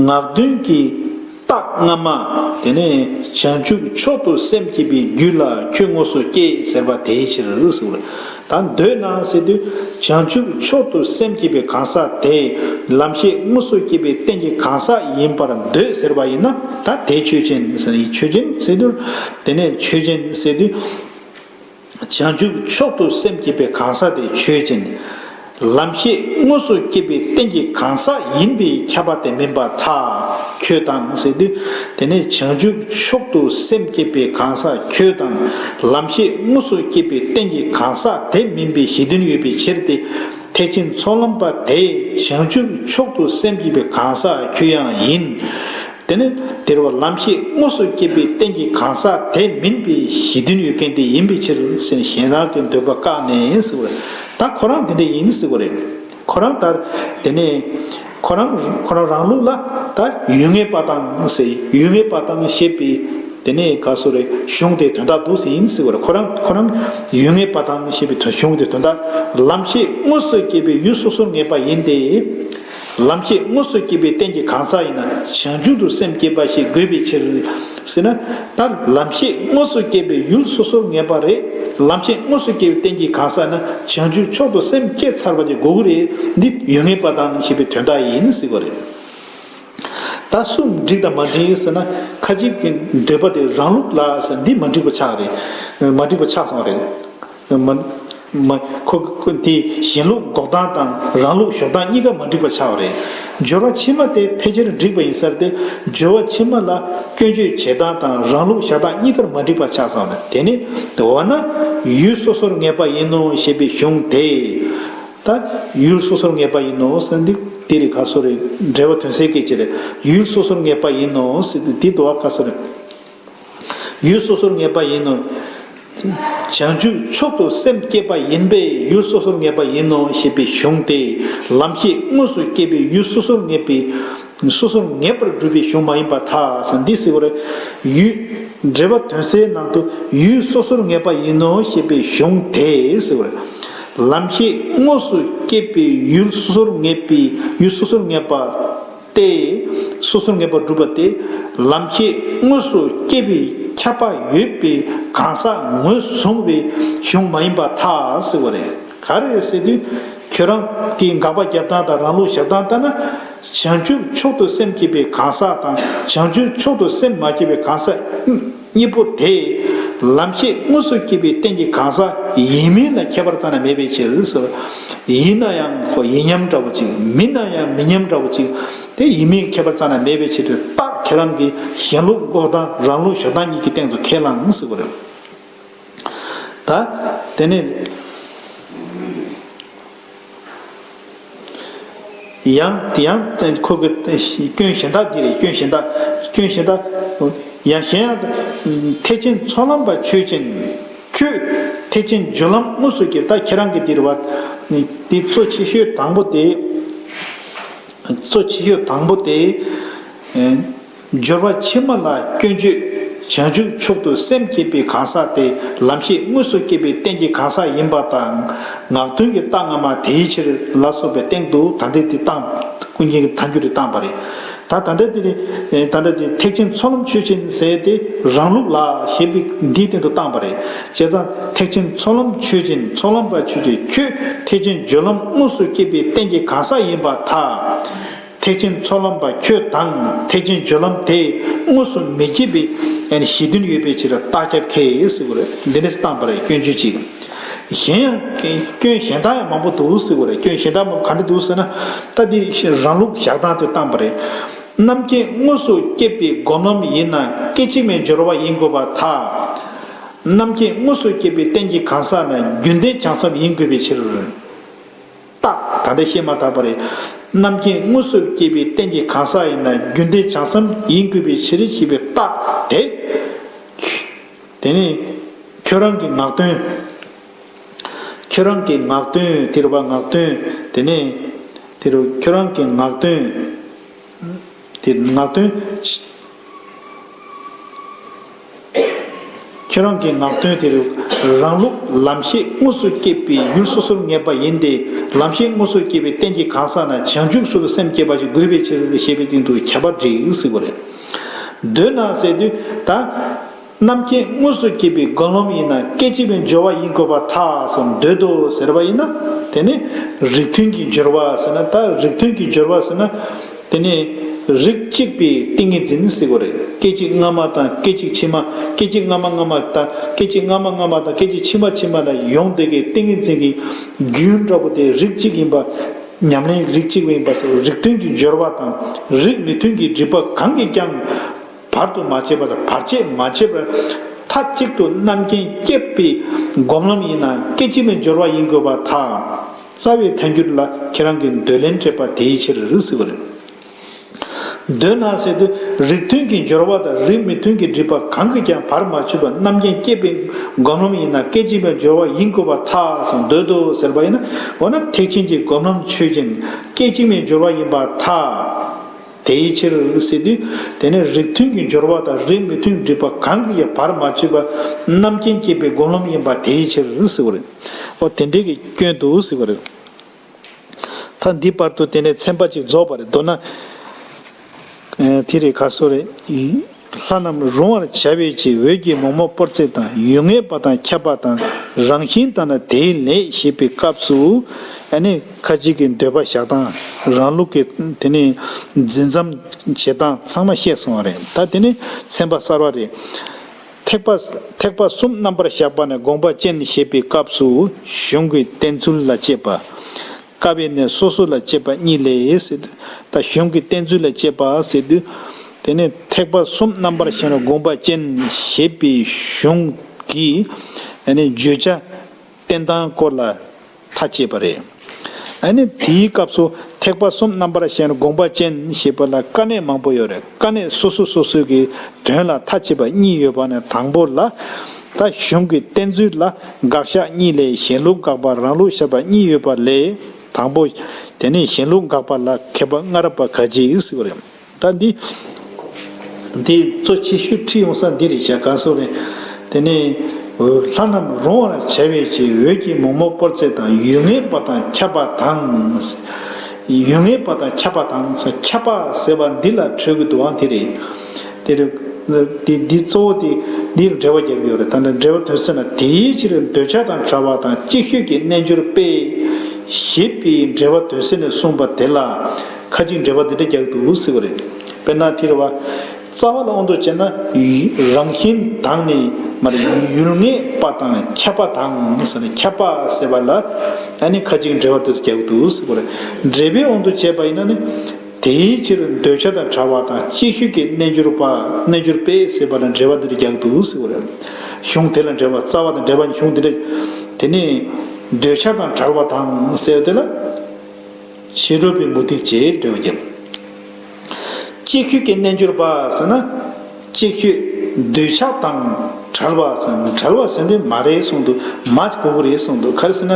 ངག་དོན་གྱི་རྟགས་སྔ་མ་དེ་ནི་བྱང་ཆུབ་མཆོག་ཏུ་སེམས་བསྐྱེད་པའི་རྒྱུད་ལ་ཁྱོད་དངོས་སུ་སྐྱེས་ཟེར་བ་དེའི་ཕྱིར། དང་འདོད་སྣང་ཟེར་དུས་བྱང་ཆུབ་མཆོག་ཏུ་སེམས་བསྐྱེད་པའི་གང་ཟག་དེ། ལམ་ཤེས་དངོས་སུ་བསྐྱེད་པའི་རྟེན་གྱི་གང་ཟག་ཡིན་པར་འདོད་ཟེར་བ་ཡིན་ན་ད་དེ་ཆོས་ཅན། ཆོས་ཅན་ཟེར་དུས། དེ་ནས་ཆོས་ཅན་ཟེར་དུས། བྱང་ཆུབ་མཆོག་ཏུ་སེམས་བསྐྱེད་པའི་གང་ཟག་དེ་ཆོས་ཅན། ལམ་ཤེས་དངོས་སུ་སྐྱེས་པའི་རྟེན་གྱི་གང་ཟག་ཡིན་པས་ཁྱབ་པ་དེ་མིན་པ་ཐ་ཁྱོད་དང་ཟེར་དུས་དེ་ནི་བྱང་ཆུབ་མཆོག་ཏུ་སེམས་བསྐྱེད་པའི་གང་ཟག་ཁྱོད་དང་ལམ་ཤེས་དངོས་སུ་སྐྱེས་པའི་རྟེན་གྱི་གང་ཟག་དེ་མིན་པའི་གཞི་མཐུན་ཡོད་པའི་ཕྱིར་ཏེ། ཐེག་ཆེན་ཚོགས་ལམ་པ་དེ་བྱང་ཆུབ་མཆོག་ཏུ་སེམས་བསྐྱེད་པའི་གང་ཟག་ཁྱོད་ཡང་ཡིན། དེ་ནི་དེར་བ་ལམ་ཤེས་དངོས་སུ་སྐྱེད་པའི་རྟེན་གྱི་གང་ཟག་དེ་མིན་པའི་གཞི་མཐུན་ཡོད་མཁན་དེ་ཡིན་པའི་ཕྱིར་སེམས་གཞན་རང་གི་འདོད་པ་བཀག་ནས་ཟིག་བ་རེད་ད་ཁོ་རང་དེ་འདྲ་ཡིན་ཟིག་བ་རེད་ཁོ་རང་ད་དེ་ནས་ཁོ་རང་ཁོ་རང་རང་ལུགས་ལ་ད་ཡུལ་ངེས་པ་དང་ཟེར་ཡུལ་ངེས་པ་དང་ཞེས་པའི་དེ་ནས་ག་སོ་རེ་གཞུང་དེ་དོན་དག་འདུག་ཟེར་ཡིན་ཟིག་བ་རེད་ཁོ་རང་ཁོ་རང་ཡུལ་ངེས་པ་དང་ཞེས་པའི་གཞུང་དེ་དོན་དག་ལམ་ཤེས་དངོས་སུ་སྐྱེད་པའི་ཡུལ་སོ་སོར་ངེས་པ་ཡིན་ཏེ། ལམ་ཤེས་དངོས་སུ་སྐྱེས་པའི་རྟེན་གྱི་གང་ཟག་ཡིན་ན་བྱང་ཆུབ་ཏུ་སེམས་བསྐྱེད་པ་ཞིག་དགོས་པའི་ཕྱིར། ཟེར་ན། ད་ལམ་ཤེས་དངོས་སུ་སྐྱེས་པའི་ཡུལ་སོ་སོར་ངེས་པ་རེད། ལམ་ཤེས་དངོས་སུ་སྐྱེས་པའི་རྟེན་གྱི་གང་ཟག་ན་བྱང་ཆུབ་མཆོག་ཏུ་སེམས་བསྐྱེད་ཚར་བ་དེ་དགོས་ཀྱི་རེད། འདི་ཡོད་ངེས་པ་དང་ཞེས་པའི་དོན་དག་ཡིན་སྲིད་པ་རེད། ད་གསུམ་འགྲིག་དང་མ་འགྲིག་ཟེར་ན། ཁ་ཅིག་གིས་འདོད་པ་དེ་རང་ལུགས་ལ་ཟེར་འདི་མ་འགྲིག་པ་ཆགས་རེད། མ་འགྲིག་པ་ཆགས་སོང་རེད། མ། ཁོ། དེ་གཞན་ལུགས་འགོག་སྟངས་དང་རང་ལུགས་གཞོག་སྟངས་གཉིས་ཀ་མ་འགྲིག་པ་ཆགས་པ་རེད། སྦྱོར་བ་ཕྱི་མ་དེ་ཕལ་ཆེར་འགྲིག་པ་ཡིན་ས་རེད་དེ། སྦྱོར་བ་ཕྱི་མ་ལ་སྐྱོན་བརྗོད་བྱེད་སྟངས་དང་རང་ལུགས་བཞག་སྟངས་གཉིས་ཀར་མ་འགྲིག་པ་ཆགས་སོང་ལ་དེ་ནི། འོ་ན། ཡུལ་སོ་སོར་ངེས་པ་ཡིན་ནོ་ཞེས་པའི་གཞུང་དེ། ད། ཡུལ་སོ་སོར་ངེས་པ་ཡིན་ནོ་ཟེར་འདི་དེ་རེད་ག་སོ་རེད་འགྲེལ་བ་དོན་གསལ་སྐད་ཅིག་རེད། ཡུལ་སོ་སོར་ངེས་པ་ཡིན་ནོ་ཟེར་དེ་དེ་དུ་བ་ག་སོ་རེད། ཡུལ་སོ་སོར་ངེས་པ་ཡིན་ནོ། བྱང་ཆུབ་མཆོག་ཏུ་སེམས་བསྐྱེད་པ་ཡིན་པས་ཡུལ་སོ་སོར་ངེས་པ་ཡིན་ནོ་ཞེས་པའི་གཞུང་སྟེ་ལམ་ཤེས་དངོས་སུ་བསྐྱེད་པའི་ཡུལ་སོ་སོར་ངེས་པའི་སོ་སོར་ངེས་པར་སྒྲུབ་པའི་གཞུང་མ་ཡིན་པ་དག་འདི་གསལ་བར། ཡུལ་འབྲེལ་པ་དོན་གསལ་ནང་དུ་ཡུལ་སོ་སོར་ངེས་པ་ཡིན་ནོ་ཞེས་པའི་གཞུང་དེ་གསལ་བར། ལམ་ཤེས་དངོས་སུ་བསྐྱེད་པའི་ཡུལ་སོ་སོར་ངེས་པའི་ཡུལ་སོ་སོར་ངེས་པ། སྟེ། སོ་སོར་ངེས་པར་བསྒྲུབ་པ་སྟེ། ལམ་ཁྱད་དངོས་སུ་བསྐྱེད་པའི་ཁྱབ་པ་ཡོད་པའི་གང་ཟག་ངོས་བཟུང་བའི་གཞུང་མ་ཡིན་པ་ཐ་ཟེར་བ་རེད། ག་རེ་ཟེར་དུས། ཁྱོད་རང་གི་འགག་པ་རྒྱབ་སྟངས་དང་རང་ལུགས་བཞག་སྟངས་ལྟར་ན། བྱང་ཆུབ་མཆོག་ཏུ་སེམས་བསྐྱེད་པའི་གང་ཟག་དང་བྱང་ཆུབ་མཆོག་ཏུ་སེམས་མ་བསྐྱེད་པའི་གང་ཟག། གཉིས་པོ་དེས་ལམ་ཤེས་དངོས་སུ་སྐྱེས་པའི་རྟེན་གྱི་གང་ཟག་ཡིན་མིན་ལ་ཁྱད་པར་ཙམ་ཡང་མེད་པའི་ཕྱིར། ཡིན་ན་ཡང་ཡིན་མཉམ་འདྲ་བོ་ཅིག་མིན་ན་ཡང་མིན་མཉམ་འདྲ་བོ་ཅིག་དེ་ཡིན་མིན་ཁྱད་པར་ཙམ་ཡང་མེད་པའི་ཕྱིར་དུས་རྟགས་ཁྱེད་རང་གི་ཞེན་ལུགས་འགོག་སྟངས་རང་ལུགས་ཞོག་སྟངས་གཉིས་ཀྱི་སྟེང་དུ་ཁས་བླངས་ཟེར་བ་རེད། ད་དེ་ནི། ཡང་ཁོ་བོས་སྐྱོན་གཞན་དག་འདི་རེད་སྐྱོན་གཞན་དག་སྐྱོན་གཞན་དག། ཡང་གཞན་ཡང། ཐེག་ཆེན་ཚོགས་ལམ་པ་ཆོས་ཅན། ཁྱོད། ཐེག་ཆེན་སྦྱོར་ལམ་དངོས་སུ་སྐྱེ་ད་ཁྱེད་རང་གི་འདིར་བ། འདི་གཙོ་ཆེ་ཤོས་དང་པོ་སྟེ། གཙོ་ཆེ་ཤོས་དང་པོ་སྟེ། སྦྱོར་བ་ཕྱི་མ་ལ་སྐྱོན་བརྗོད། བྱང་ཆུབ་མཆོག་ཏུ་སེམས་བསྐྱེད་པའི་གང་ཟག་དེ་ལམ་ཤེས་དངོས་སུ་སྐྱེད་པའི་རྟེན་གྱི་གང་ཟག་ཡིན་པ་དང། ངག་དོན་གྱི་རྟགས་སྔ་མ་དེའི་ཕྱིར་ལ་སོགས་པའི་སྟེང་དུ་ད་ལྟའི་དེ་དང། ཀུན་མཁྱེན་གྱི་ད་འགྱུར་དེ་དང་བ་རེ། ད་ད་འདྲ་དེ་ནི། ད་འདྲ་དེ་ཐེག་ཆེན་ཚོགས་ལམ་ཆོས་ཅན་ཟད་དེ་རང་ལུགས་ལ་ཞེས་པའི་འདིའི་སྟེང་དུ་བཏང་བ་རེ། བྱས་ཙང་ཐེག་ཆེན་ཚོགས་ལམ་ཆོས་ཅན་ཚོགས་ལམ་པ་ཆོས་ཀྱི་ཁྱོད་ཐེག་ཆེན་སྦྱོར་ལམ་དངོས་སུ་སྐྱེད་པའི་རྟེན་གྱི་གང་ཟག་ཡིན་པ་ཐ། ཐེག་ཆེན་ཚོགས་ལམ་པ་ཁྱོད་དང་ཐེག་ཆེན་སྦྱོར་ལམ་དེས་དངོས་སུ་མི་བསྐྱེད་པའི་གཞི་དོན་ཡོད་པའི་ཕྱིར་རྟགས་ཁྱབ་ཁས་སེ་བུ་རེ་འདི་འདྲས་བཏང་པ་རེ་སྐྱོན་བརྗོད་ཅིག། གཞན་ཡང་སྐྱོན་གཞན་དག་ཡང་མང་པོ་འདུག་སེ་བུ་རེ་སྐྱོན་གཞན་དག་མང་པོ་ག་འདྲ་འདུག་ཟེར་ན། ལྟ་དེ་རང་ལུགས་བཞག་སྟངས་ཚོད་བཏང་པ་རེ། རྣམ་མཁྱེན་དངོས་སུ་བསྐྱེད་པའི་སྒོམ་ལམ་ཡིན་ན་སྐད་ཅིག་མའི་སྦྱོར་བ་ཡིན་དགོས་པ་དག། རྣམ་མཁྱེན་དངོས་སུ་བསྐྱེད་པའི་རྟེན་གྱི་གང་ཟག་ན་རྒྱུན་ལྡན་བྱང་སེམས་ཡིན་དགོས་པའི་ཕྱིར། རྟགས། ད་ལྟ་བཤད་མ་ཐག་པ་རེད། རྣམ་མཁྱེན་དངོས་གཟུགས་བསྐྱེད་པའི་རྟེན་གྱི་གང་ཟག་ཡིན་ན་རྒྱུད་འདི་བྱང་སེམས་ཡིན་དགོས་པའི་ཕྱིར་ཞེས་པའི་རྟགས་དེ། དེ་ནས། ཁྱོད་རང་གི་ངག་དོན། ཁྱོད་རང་གི་ངག་དོན་དེ་རུ་བ་ངག་དོན། དེ་ནས། དེ་རུ་ཁྱོད་རང་གི་ངག་དོན། དེ་ངག་དོན། ཁྱེད་རང་གི་ངག་དོན་དེར་རང་ལུགས་ལམ་ཤེས་དངོས་སུ་སྐྱེས་པའི་ཡུལ་སོ་སོར་ངེས་པ་ཡིན་ཏེ་ལམ་ཤེས་དངོས་སུ་སྐྱེས་པའི་རྟེན་གྱི་གང་ཟག་ན་བྱང་ཆུབ་སེམས་སུ་སེམས་བསྐྱེད་པ་ཞིག་དགོས་པའི་ཕྱིར་ཞེས་པའི་སྟེང་དུ་ཁྱད་པར་འབྲི་སྲིད་པ་རེད། འདོད་ན་ཟེར་དུས་ད། རྣམ་མཁྱེན་དངོས་སུ་སྐྱེས་པའི་རྒོལ་ལོམ་ཡིན་ན་སྐད་ཅིག་པའི་སྦྱོར་བ་ཡིན་དགོས་པ་ཐག་སོ་འདོད་དོ་ཟེར་བ་ཡིན་ན། དེ་ནི་རིགས་མཐུན་གྱི་སྦྱོར་བ་ཟེར་ན་ད་རིགས་མཐུན་གྱི་སྦྱོར་བ་ཟེར་ན། དེ་ནི་རིགས་གཅིག་པའི་ཏིང་ངེ་འཛིན་གཟིགས་པ་རེད་སྐད་ཅིག་སྔ་མ་དང་སྐད་ཅིག་ཕྱི་མ་སྐད་ཅིག་སྔ་མ་སྔ་མ་དང་སྐད་ཅིག་སྔ་མ་སྔ་མ་དང་སྐད་ཅིག་ཕྱི་མ་ཕྱི་མ་ན་ཡོངས་འདུས་ཀྱི་ཏིང་ངེ་འཛིན་གྱི་རྒྱུན་འདྲ་པོ་དེ་རིགས་གཅིག་ཡིན་པ་ཉམས་ལེན་རིགས་གཅིག་པ་ཡིན་པ་སོགས་རིགས་མཐུན་གྱི་སྦྱོར་བ་དང་རིགས་མི་མཐུན་གྱི་སྒྲིབ་པ་གང་གིས་ཀྱང། བར་དུ་མ་ཆད་པ་དང་བར་ཆད་མ་ཆད་པར་མཐའ་གཅིག་ཏུ་རྣམ་མཁྱེན་བསྐྱེད་པའི་སྒོམ་ལམ་ཡིན་ན་སྐད་ཅིག་མའི་སྦྱོར་བ་ཡིན་དགོས་པ་དག་རྩ་བའི་ཐལ་འགྱུར་ལ་ཁྱེད་རང་གི་འདོད་ལན་སྤྲད་པ་དེའི་ཕྱིར་རིགས་སྲིད་པ་རེད། འདོད་ན་ཟེར་དུས་རིགས་མཐུན་གྱི་སྦྱོར་བ་དང་རིགས་མི་མཐུན་གྱི་སྒྲིབ་པ་གང་གིས་ཀྱང་བར་མ་ཆོད་པར་རྣམ་མཁྱེན་བསྐྱེད་པའི་སྒོམ་ལམ་ཡིན་ན་སྐད་ཅིག་མའི་སྦྱོར་བ་ཡིན་དགོས་པ་དག་སོང་འདོད་དོ་ཟེར་བ་ཡིན་ན་འོ་ན་ཐེག་ཆེན་གྱི་སྒོམ་ལམ་ཆོས་ཅན་སྐད་ཅིག་མའི་སྦྱོར་བ་ཡིན་པ་དག། དེའི་ཕྱིར་སྲིད་དུ་དེ་ནས་རིགས་མཐུན་གྱི་སྦྱོར་བ་དང་རིགས་མི་མཐུན་སྒྲིབ་པ་གང་གི་ཡང་བར་མ་ཆོད་པ་རྣམ་མཁྱེན་བསྐྱེད་པའི་སྒོམ་ལམ་ཡིན་པ་དེའི་ཕྱིར་སྲིད་བར་རིགས་འོ་དེ་འདྲའི་གི་སྐྱོན་དུ་སྲིད་བར་རིགས། ད་འདི་བར་དུ་དེ་ནས་ཚན་པ་གཅིག་རྫོགས་པར་འདོད་ན། དེ་རེས་ག་སོ་རེ། ལྷ་རྣམས་རུང་བར་བྱ་བའི་ཕྱིར་འོད་ཀྱི་མོག་མོག་པོར་ཚེ་དང་ཡུལ་ངེས་པ་དང་ཁྱབ་པ་དང་རང་བཞིན་དང་ན་དེའི་ལས་ཞེས་པའི་སྐབས་སུ། ཁ་ཅིག་གིས་འདོད་པ་བཞག་སྟངས་རང་ལུགས་ཀྱི་དེ་ནི་འཛིན་མཚམས་བྱེད་སྟངས་ཚང་མ་བཤད་སོང་བ་རེད་ད་དེ་ནི་ཚན་པ་གསར་བ་རེད། ཐེག་པ་ཐེག་པ་གསུམ་རྣམ་པར་བཞག་པ་ནས་དགོངས་པ་ཅན་ཞེས་པའི་སྐབས་སུ་གཞུང་གི་བསྟན་ཚུལ་ལ་དཔྱད་པ། བཀའ་བའི་ནི་སོ་སོ་ལ་དཔྱད་པ་གཉིས་ལས་ཟེར། ད་གཞུང་གི་བསྟན་ཚུལ་ལ་དཔྱད་པ་ཟེར། དེ་ནས་ཐེག་པ་གསུམ་རྣམ་པར་བཞེངས་ལ་དགོངས་པ་ཅན་ཞེས་པའི་གཞུང་གི་བརྗོད་བྱ་བསྟན་སྟངས་སྐོར་ལ་ཐ་དཔྱད་པ་རེད། དེའི་སྐབས་སུ་ཐེག་པ་གསུམ་རྣམ་པར་བཞེངས་ལ་དགོངས་པ་ཅན་ཞེས་པ་ལ་དཀའ་གནད་མང་པོ་ཡོད་རེད། དཀའ་གནད་སོ་སོ་སོ་སོའི་གི་དོན་ལ་མཐའ་ཕྱེད་པ་གཉིས་ཡོད་པ་ནས་དང་པོ་ལ། ད་གཞུང་གི་བསྟན་ཚུལ་ལ་དགག་བཞག་གཉིས་ལས་གཞན་ལུགས་དགག་པ་རང་ལུགས་བཞག་པ་གཉིས་ཡོད་པ་ལས་དང་པོ། དེ་ནས་གཞན་ལུགས་དགག་པ་ལ་མཁས་པ་སྔ་རབས་པ་ག་རྗེ་ཡིས་གཟིགས་པ་རེད། ད་འདི་འདི་གཙོ་ཆེ་ཤོས་ཁྲིད་ཡོང་ས་འདི་རེད་བཞག་ག་སོགས་རེད། དེ་ནས། ལྷ་རྣམས་རུང་བར་བྱ་བའི་ཕྱིར་འོད་ཀྱིས་མོག་མོག་པོར་ཚེ་དང་ཡུལ་ངན་པ་དང་ཁྱབ་པ་དང། ཡུལ་ངེས་པ་དང་ཁྱབ་པ་དང་ཁྱབ་པ་ཟེར་བ་འདི་ལ་འཕྲོས་གི་འདུག་ཨང་དེ་རེད། དེ་རེད། འདི་གཙོ་བོ་དེ་འདིའི་འགྲེལ་བ་བརྒྱབ་ཡོད་རེད་ད་འདྲ་འགྲེལ་བ་དོན་ཟེར་ན་དེའི་ཕྱིར་འདོད་ཆགས་དང་བྲལ་བ་དང་ཅིག་ཤོས་ཀྱི་རྣལ་འབྱོར་དཔེ། ཞེས་པའི་འགྲེལ་བ་དོན་ཟེར་ནས་གསུངས་པ་དེ་ལ་ཁ་ཅིག་འགྲེལ་བ་འདི་འདྲ་རྒྱག་གི་འདུག་ཟེར་བ་རེད། དཔེར་ན་དེ་རེད་བ། རྩ་བ་ལ་ཨོ་མདོ་ཅན་ན་རང་བཞིན་དང་ནི་ཡུལ་ངེས་པ་དང་ཁྱབ་པ་དང་ཟེར་ན་ཁྱབ་པ་ཟེར་བ་ལ་ཁ་ཅིག་འབྲེལ་བ་དུ་རྒྱག་གི་འདུག་ཟེར་བ་རེད། འབྲེལ་པའི་འོག་ཏུ་བྱས་པ་ཡིན་ན་ནི། དེའི་ཕྱིར་འདོད་ཆགས་དང་བྲལ་བ་དང་ཅིག་ཤོས་ཀྱི་རྣལ་འབྱོར་པ་རྣལ་འབྱོར་པས་ཟེར་བ་ལ་འབྲེལ་བ་འདིར་རྒྱག་གི་འདུག་ཟེར་བ་རེད། གཞུང་དེ་ལ་འབྲེལ་བ་རྩ་བ་དང་འབྲེལ་བ་གཞུང་འདི་ལས། དེ་ནི། འདོད་ཆགས་དང་བྲལ་བ་དང་ཟེར་བ་དེ་ལ། ཕྱི་རོལ་པའི་མུ་སྟེགས་ཅེས་འབྲེལ་བ་བརྒྱབ། ཅིག་ཤོས་ཀྱི་རྣལ་འབྱོར་པ་ཟེར་ན། ཅིག་ཤོས་འདོད་ཆགས་དང་བྲལ་བ་ཟེར་ན་བྲལ་བ་ཟེར་འདི་མ་རེད་གསུངས་འདུག་མ་ཅིག་པོ་པོ་རེད་གསུངས་འདུག་ག་རེ་ཟེར་ན།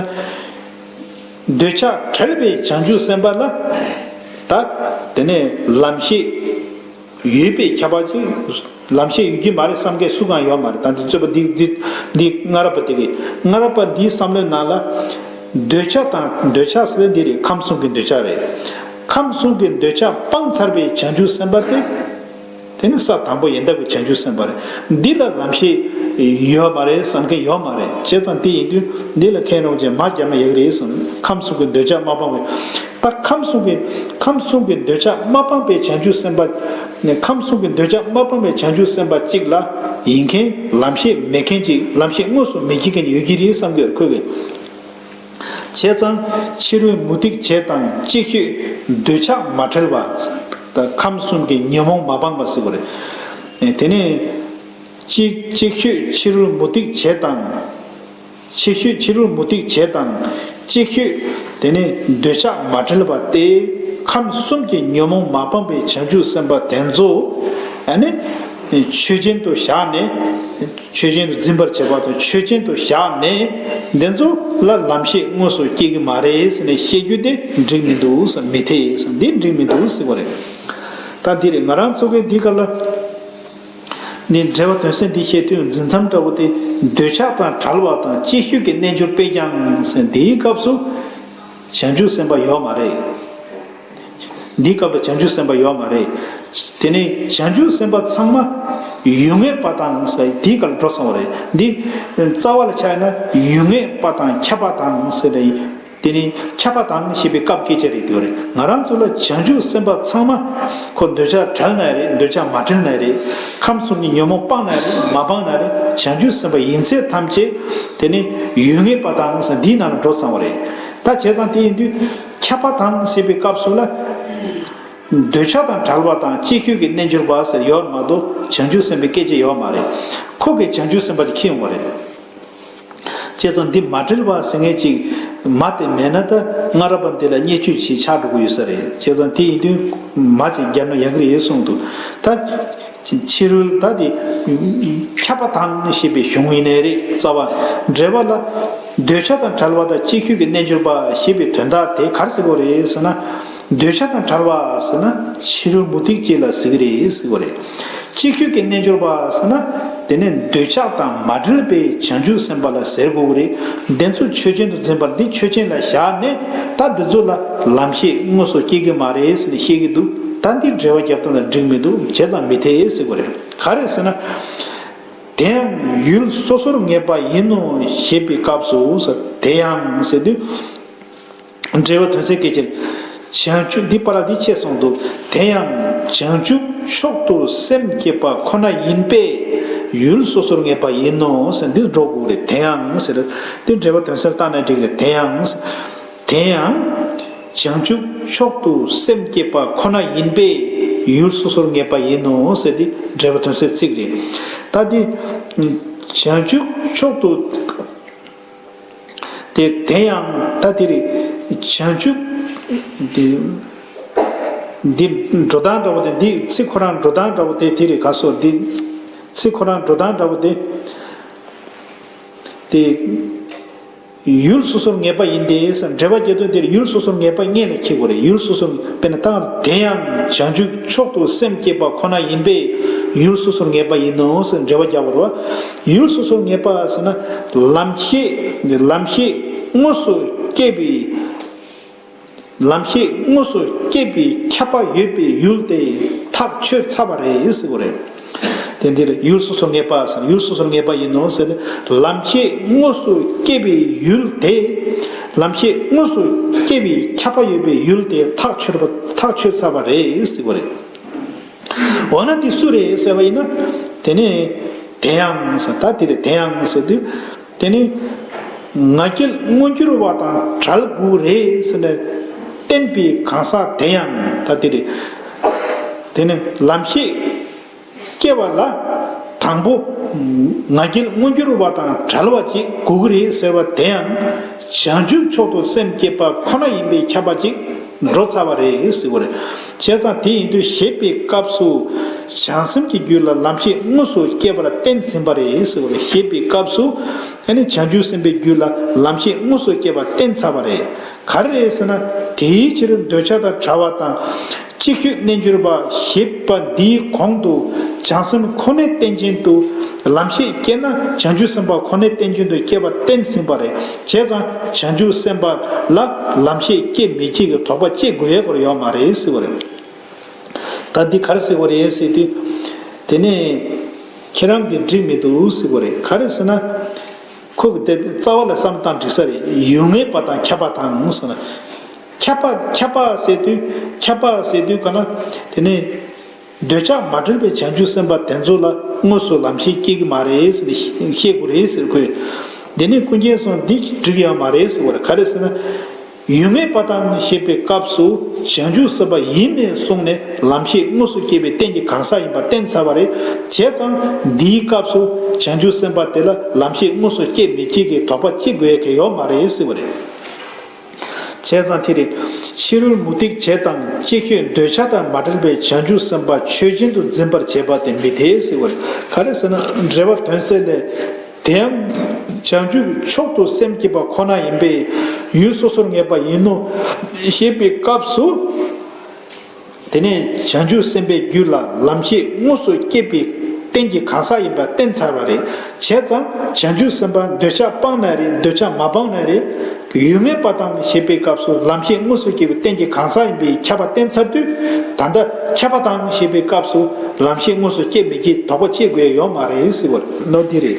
འདོད་ཆགས་བྲལ་བའི་བྱང་ཆུབ་སེམས་དཔའ་ལ་ད་དེ་ནས་ལམ་ཤེས་ཡོད་པའི་ཁྱད་པར་ཅིག། ལམ་ཤེས་ཡོད་ཀྱི་མ་རེད་བསམ་མཁན་སུ་གང་ཡོད་མ་རེད་ད་འདི་རྩོད་པ་འདི་འདི་འདི་སྔ་རབས་པ་དེ་གི་སྔ་རབས་པ་འདིའི་བསམ་བློའི་ནང་ལ། འདོད་ཆགས་དང་འདོད་ཆགས་ཟེར་འདི་རེད་ཁམས་གསུམ་གྱི་འདོད་ཆགས་རེད། ཁམས་གསུམ་གྱི་འདོད་ཆགས་སྤངས་ཚར་པའི་བྱང་ཆུབ་སེམས་དཔའ་དེ། དེ་ནི་ས་དང་པོ་ཡལ་འདབ་ཀྱི་བྱང་ཆུབ་སེམས་དཔའ་རེད་འདི་ལ་ལམ་ཤེས་ཡོད་མ་རེད་བསམ་མཁན་ཡོད་མ་རེད་བྱས་ཙང་དེ་ཡིན་དུས་འདི་ལ་མཁས་རོང་ཅན་མ་རྒྱབ་ན་ཡག་རེད་བསམ་ཁམས་གསུམ་གྱི་འདོད་ཆགས་མ་སྤངས་པའི། ད་ཁམས་གསུམ་གྱི་ཁམས་གསུམ་གྱི་འདོད་ཆགས་མ་སྤངས་པའི་བྱང་ཆུབ་སེམས་དཔའ། ནས་ཁམས་གསུམ་གྱི་འདོད་ཆགས་མ་སྤངས་པའི་བྱང་ཆུབ་སེམས་དཔའ་གཅིག་ལ་ཡིན་མཁན་ལམ་ཤེས་མེད་མཁན་གཅིག་ལམ་ཤེས་དངོས་སུ་མི་བགྱིད་མཁན་གཅིག་ཡོད་ཀྱི་རེད་བསམ་དགོས་ཁོ་བས། བྱས་ཙང་ཕྱི་རོལ་མུ་སྟེགས་བྱེད་དང་ཅིག་ཤོས་འདོད་ཆགས་མ་བྲལ་བ། ཁམས་གསུམ་གྱི་ཉོན་མོངས་མ་སྤངས་པ་ཟེར་བ་རེད། དེ་ནས། ཅིག་ཤོས་ཕྱི་རོལ་མུ་སྟེགས་བྱེད་དང། ཆེ་ཤོས་ཕྱི་རོལ་མུ་སྟེགས་བྱེད་དང། གཅིག་ཤོས། དེ་ནི་འདོད་ཆགས་མ་བྲལ་བ་སྟེ། ཁམས་གསུམ་གྱི་ཉོན་མོངས་མ་སྤངས་པའི་བྱང་ཆུབ་སེམས་དཔའ་དེ་ཚོ། ནི། ཆོས་ཅན་དུ་བཞག་ནས། ཆོས་ཅན་དུ་འཛིན་པར་བྱེད་པ་དང་ཆོས་ཅན་དུ་བཞག་ནས། འདི་ཚོ་ལ་ལམ་ཤེས་དངོས་སུ་སྐྱེ་གི་མ་རེད་ཟེར་ནས་བཤད་རྒྱུ་དེ་འགྲིག་མི་འདུག་བསམ་མི་ཐེ་བསམ་འདི་འགྲིག་མི་འདུག་ཟེར་བ་རེད། ད་འདིར་ང་རང་ཚོ་གི་འདི་ག་ལ། ནི་འགྲེལ་བ་དོན་གསལ་འདི་བཤད་དུས་འཛིན་མཚམས་འདྲ་བོ་སྟེ་འདོད་ཆགས་དང་བྲལ་བ་དང་ཅིག་ཤོས་ཀྱི་རྣལ་འབྱོར་པས་ཀྱང་སེམས་འདིའི་སྐབས་སུ་བྱང་ཆུབ་སེམས་དཔའ་ཡོད་མ་རེད། འདིའི་སྐབས་ལ་བྱང་ཆུབ་སེམས་དཔའ་ཡོད་མ་རེད། དེ་ནི་བྱང་ཆུབ་སེམས་དཔའ་ཚང་མ་ཡུལ་ངེས་པ་དང་དེའི་སྐབས་ལ་འགྲོ་སོང་བ་རེད། འདི་རྩ་བ་ལ་ཆགས་ན་ཡུལ་ངེས་པ་དང་ཁྱབ་པ་དང། དེ་ནི་ཁྱབ་པ་དང་ཞེས་པའི་སྐབས་སྐད་ཆ་རེད་དེ་བ་རེད་ང་རང་ཚོ་ལ་བྱང་ཆུབ་སེམས་དཔའ་ཚང་མ་ཁོ་འདོད་ཆགས་བྲལ་ན་རེད་འདོད་ཆགས་མ་བྲལ་ན་རེད་ཁམས་གསུམ་གྱི་ཉོན་མོངས་སྤངས་ན་རེད་མ་སྤངས་ན་རེད་བྱང་ཆུབ་སེམས་དཔའ་ཡིན་ཚད་ཐམས་ཅད་དེ་ནི་ཡུལ་ངེས་པ་དང་ས་འདིའི་ནང་ལ་འགྲོ་ཚང་བ་རེད་ད་བྱས་ཙང་དེ་ཡིན་དུས་ཁྱབ་པ་དང་ཞེས་པའི་སྐབས་སུ་ལ་འདོད་ཆགས་དང་བྲལ་བ་དང་ཅིག་ཤོས་ཀྱི་རྣལ་འབྱོར་པ་ཟེར་ཡོད་མ་གཏོགས་བྱང་ཆུབ་སེམས་དཔའི་སྐད་ཆ་ཡོད་མ་རེད་ཁོ་གས་བྱང་ཆུབ་སེམས་དཔའ་དེ་ཁེངས་བ་རེད། ཅེས་སོ། འདི་མ་དྲིལ་བར་ཟིན་ངེས་ཅིག། མ་དེ་མེད་ན་ད་སྔ་རབ་པ་འདི་ལ་བརྙས་བཅོས་ཆེ་ཆགས་འགྲོ་གི་ཡོད་ས་རེད། ཅེས་སོ། དེ་ཡིན་དུས། མ་ཅིག་བརྒྱབ་ན་ཡག་གི་རེད་གསུངས་འདུག་ད། ཕྱི་རོལ་ད་དེ། ཁྱབ་པ་དང་ཞེས་པའི་གཞུང་ཡིན་ནའི་རེད་རྩ་བ། འགྲེལ་བ་ལ། འདོད་ཆགས་དང་བྲལ་བ་དང་ཅིག་ཤོས་ཀྱི་རྣལ་འབྱོར་པ་ཞེས་པའི་དོན་དག་དེ་གར་གཟིགས་པ་རེད་ཟེར་ན། འདོད་ཆགས་དང་བྲལ་བ་ཟེར་ན་ཕྱི་རོལ་མུ་སྟེགས་ཅན་ལ་ཟེར་གྱི་རེད་ཟེར་བ་རེད། ཅིག་ཤོས་ཀྱི་རྣལ་འབྱོར་པ་ཟེར་ན་དེ་ནས་འདོད་ཆགས་དང་མ་བྲལ་བའི་བྱང་ཆུབ་སེམས་དཔའ་ལ་ཟེར་དགོས་གི་རེད། འདི་ཚོ་ཆོས་ཅན་དུ་འཛིན་པར་འདི་ཆོས་ཅན་ལ་བཞག་ནས་ད་འདི་ཚོ་ལ་ལམ་ཤེས་དངོས་སུ་སྐྱེ་གི་མ་རེད་ཟེར་ནས་བཤད་ཀྱི་འདུག་ད་འདིས་འགྲེལ་བ་བརྒྱབ་སྟངས་ལ་འགྲིག་མི་འདུག་བྱས་ཙང་མི་འཐད་ཟེར་གི་རེད། ག་རེད་ཟེར་ན། དེ་ཡང་ཡུལ་སོ་སོར་ངེས་པ་ཡིན་ནོ་ཞེས་པའི་སྐབས་སུ་དེ་ཡང་ཟེར་དུས། འགྲེལ་བ་དོན་ཚན་སྐད་ཅིག། བྱང་ཆུབ་འདི་པ་ལ་འདི་ཆེས་གསུངས་འདུག་དེ་ཡང། བྱང་ཆུབ་མཆོག་ཏུ་སེམས་བསྐྱེད་པ་ཁོ་ན་ཡིན་པས། ཡུལ་སོ་སོར་ངེས་པ་ཡིན་ནོ་ཟེར་འདིར་སྒྲོ་དགུག་རེད་དེ་ཡང་ཟེར། འདིར་འགྲེལ་བ་དོན་གསལ་བཏགས་ན་འགྲིག་རེད་དེ་ཡང། དེ་ཡང། བྱང་ཆུབ་མཆོག་ཏུ་སེམས་བསྐྱེད་པ་ཁོ་ན་ཡིན་པས། ཡུལ་སོ་སོར་ངེས་པ་ཡིན་ནོ་ཟེར་འདི་འགྲེལ་བ་དོན་གསལ་ཚིག་རེད། ད་འདིར། བྱང་ཆུབ་མཆོག་ཏུ། དེ་དེ་ཡང་ད་དེ་རི་བྱང་ཆུབ། འདི་འགྲོ་སྟངས་འདྲ་བོ་དེ་འདི་ཚིག་ཁོ་རང་འགྲོ་སྟངས་འདྲ་བོ་དེ་དེ་རི་ག་སོ་འདི་ཚིག་ཁོ་རང་འགྲོ་སྟངས་འདྲ་བོ་དེ། དེ་ཡུལ་སོ་སོར་ངེས་པ་ཡིན་ཏེ་འགྲེལ་པ་བརྒྱད་དོ་འདིར་ཡུལ་སོ་སོར་ངེས་པ་ལྔས་ལས་ཁྱད་དགུ་རེ་ཡུལ་སོ་སོར་དཔེར་ན་ད་དེ་ཡང་བྱང་ཆུབ་མཆོག་ཏུ་སེམས་བསྐྱེད་པ་ཁོ་ན་ཡིན་པས་ཡུལ་སོ་སོར་ངེས་པ་ཡིན་ནོ་ཞེས་འགྲེལ་པ་བརྒྱ་བོར་བ། ཡུལ་སོ་སོར་ངེས་པ་ཟེར་ན་ལམ་ཤེས་འདི་ལམ་ཤེས་དངོས་སུ་སྐྱེས་པའི་ལམ་ཤེས་དངོས་སུ་སྐྱེས་པའི་ཁྱབ་པ་ཡོད་པའི་ཡུལ་དེ་ཐག་ཆོད་ཚར་བ་རེད་ཟེར་བ་རེད། དེ་འདིར་ཡུལ་སོ་སོར་ངེས་པ་ཟེར་ན་ཡུལ་སོ་སོར་ངེས་པ་ཡིན་ནོ་ཟེར་ཏེ་ལམ་ཤེས་དངོས་སུ་སྐྱེས་པའི་ཡུལ་དེ་ལམ་ཤེས་དངོས་སུ་སྐྱེས་པའི་ཁྱབ་པ་ཡོད་པའི་ཡུལ་དེ་ཐག་ཆོད་ཚར་བ་རེད་ཟེར་བ་རེད། འོ་ན་དེ་སུ་རེད་ཟེར་བ་ཡིན་ན། དེ་ནི། དེ་ཡང་ཟེར། ད་དེ་རེད་དེ་ཡང་ཟེར་དུས། དེ་ནི། ང་རྒྱལ་དངོས་གྱུར་བ་དང་བྲལ་དགོས་རེད་ཟེར་ནས། བསྟན་པའི་གང་ཟག་དེ་ཡང་ད་དེ་རེད། དེ་ནི་ལམ་ཤེས། སྐྱེ་བ་ལ། དང་པོ། ང་རྒྱལ་དངོས་གྱུར་བ་དང་བྲལ་བ་ཅིག་དགོས་ཀྱི་རེད་ཟེར་བ་དེ་ཡང། བྱང་ཆུབ་མཆོག་ཏུ་སེམས་བསྐྱེད་པ་ཁོ་ན་ཡིན་པའི་ཁྱབ་པ་ཅིག་འགྲོ་ཚར་བ་རེད་ཟེར་དགོས་རེད། བྱས་ཙང་དེ་ཡིན་དུས་ཞེས་པའི་སྐབས་སུ། བྱང་སེམས་ཀྱི་རྒྱུད་ལ་ལམ་ཤེས་དངོས་སུ་སྐྱེས་པར་བསྟན་ཟིན་པ་རེད། ཞེས་པའི་སྐབས་སུ། བྱང་ཆུབ་སེམས་དཔའི་རྒྱུད་ལ་ལམ་ཤེས་དངོས་སུ་སྐྱེས་པར་བསྟན་ཚར་བ་རེད། ག་རེ་རེད་ཟེར་ན། དེའི་ཕྱིར་འདོད་ཆགས་དང་བྲལ་བ་དང། ཅིག་ཤོས་རྣལ་འབྱོར་པ་ཞེས་པ་འདིའི་གོང་དུ། བྱང་སེམས་ཁོ་ནའི་རྟེན་ཅན་དུ། ལམ་ཤེས་སྐྱེས་ན་བྱང་ཆུབ་སེམས་དཔའ་ཁོ་ནའི་རྟེན་ཅན་དུ་སྐྱེས་པར་བསྟན་ཟིན་པ་རེད། བྱས་ཙང་བྱང་ཆུབ་སེམས་དཔའ་ལ་ལམ་ཤེས་སྐྱེ་མི་སྐྱེ་གི་དོགས་པ་སྐྱེ་དགོས་ཡས་སྐོར་ཡོད་མ་རེད་ཟེར་བ་རེད། ད་འདི་ག་རེ་ཟེར་བ་རེད་ཟེར་དུས། དེ་ནས། ཁྱེད་རང་གིས་འགྲིག་མི་འདུག་ཟེར་བ་རེད་ག་རེ་ཟེར་ན། ཁོ་གི་དེ་རྩ་བ་ལ་བསམ་སྟངས་འགྲིག་ས་རེད་ཡུལ་ངན་པ་དང་ཁྱབ་པ་དང་ཟེར་ན། ཁྱབ་པ་ཁྱབ་པ་ཟེར་དུས་ཁྱབ་པ་ཟེར་དུས་ག་ན་དེ་ནས། འདོད་ཆགས་མ་གྲོལ་བའི་བྱང་ཆུབ་སེམས་དཔའ་དེ་ཚོ་ལ་དངོས་སུ་ལམ་ཤེས་སྐྱེ་གི་མ་རེད་ཟེར་ནས་བཤད་དགོས་རེད་ཟེར་དགོས། དེ་ནས་ཀུན་མཁྱེན་སོང་འདི་འགྲིག་ཡ་མ་རེད་ཟེར་བར་ག་རེད་ཟེར་ན། ཡུལ་ངེས་པ་དང་ཞེས་པའི་སྐབས་སུ་བྱང་ཆུབ་སེམས་དཔའ་ཡིན་ནས་གསུངས་ནས་ལམ་ཤེས་དངོས་སུ་སྐྱེ་བའི་རྟེན་གྱི་གང་ཟག་ཡིན་པ་བསྟན་ཚར་བ་རེད་བྱས་ཙང་འདིའི་སྐབས་སུ་བྱང་ཆུབ་སེམས་དཔའ་དེ་ལ་ལམ་ཤེས་དངོས་སུ་སྐྱེ་མི་སྐྱེ་གི་དོགས་པ་ཅི་དགོས་གི་ཡོད་མ་རེད་ཟེར་བ་རེད། བྱས་ཙང་དེ་རེད། ཕྱི་རོལ་མུ་སྟེགས་བྱེད་དང་ཅི་ཁྱོད་འདོད་ཆགས་དང་མ་བྲལ་བའི་བྱང་ཆུབ་སེམས་དཔའ་ཆོས་ཅན་དུ་འཛིན་པར་བྱེད་པ་དེ་མི་དེའི་སྲིད་བར་ག་རེ་ཟེར་ན་འགྲེལ་བ་དོན་གསལ་ལས། དེ་ཡང། བྱང་ཆུབ་མཆོག་ཏུ་སེམས་བསྐྱེད་པ་ཁོ་ན་ཡིན་པས་ཡུལ་སོ་སོར་ངེས་པ་ཡིན་ནོ། ཞེས་པའི་སྐབས་སུ། དེ་ནས་བྱང་ཆུབ་སེམས་དཔའི་རྒྱུད་ལ་ལམ་ཤེས་དངོས་སུ་སྐྱེས་པའི་རྟེན་གྱི་གང་ཟག་ཡིན་པར་བསྟན་ཚར་བ་རེ་བྱས་ཙང་བྱང་ཆུབ་སེམས་དཔའ་འདོད་ཆགས་སྤངས་ན་རེ་འདོད་ཆགས་མ་སྤངས་ན་རེ། ཡུལ་ངེས་པ་དང་ཞེས་པའི་སྐབས་སུ་ལམ་ཤེས་དངོས་སུ་སྐྱེས་པའི་རྟེན་གྱི་གང་ཟག་ཡིན་པའི་ཁྱབ་པ་བསྟན་ཚར་དུས་ད་ལྟ་ཁྱབ་པ་དང་ཞེས་པའི་སྐབས་སུ་ལམ་ཤེས་དངོས་སུ་སྐྱེ་མི་སྐྱེ་དོགས་པ་སྐྱེ་དགོས་ཡོད་མ་རེད་ཟེར་བ་ནོར་འདི་རེད།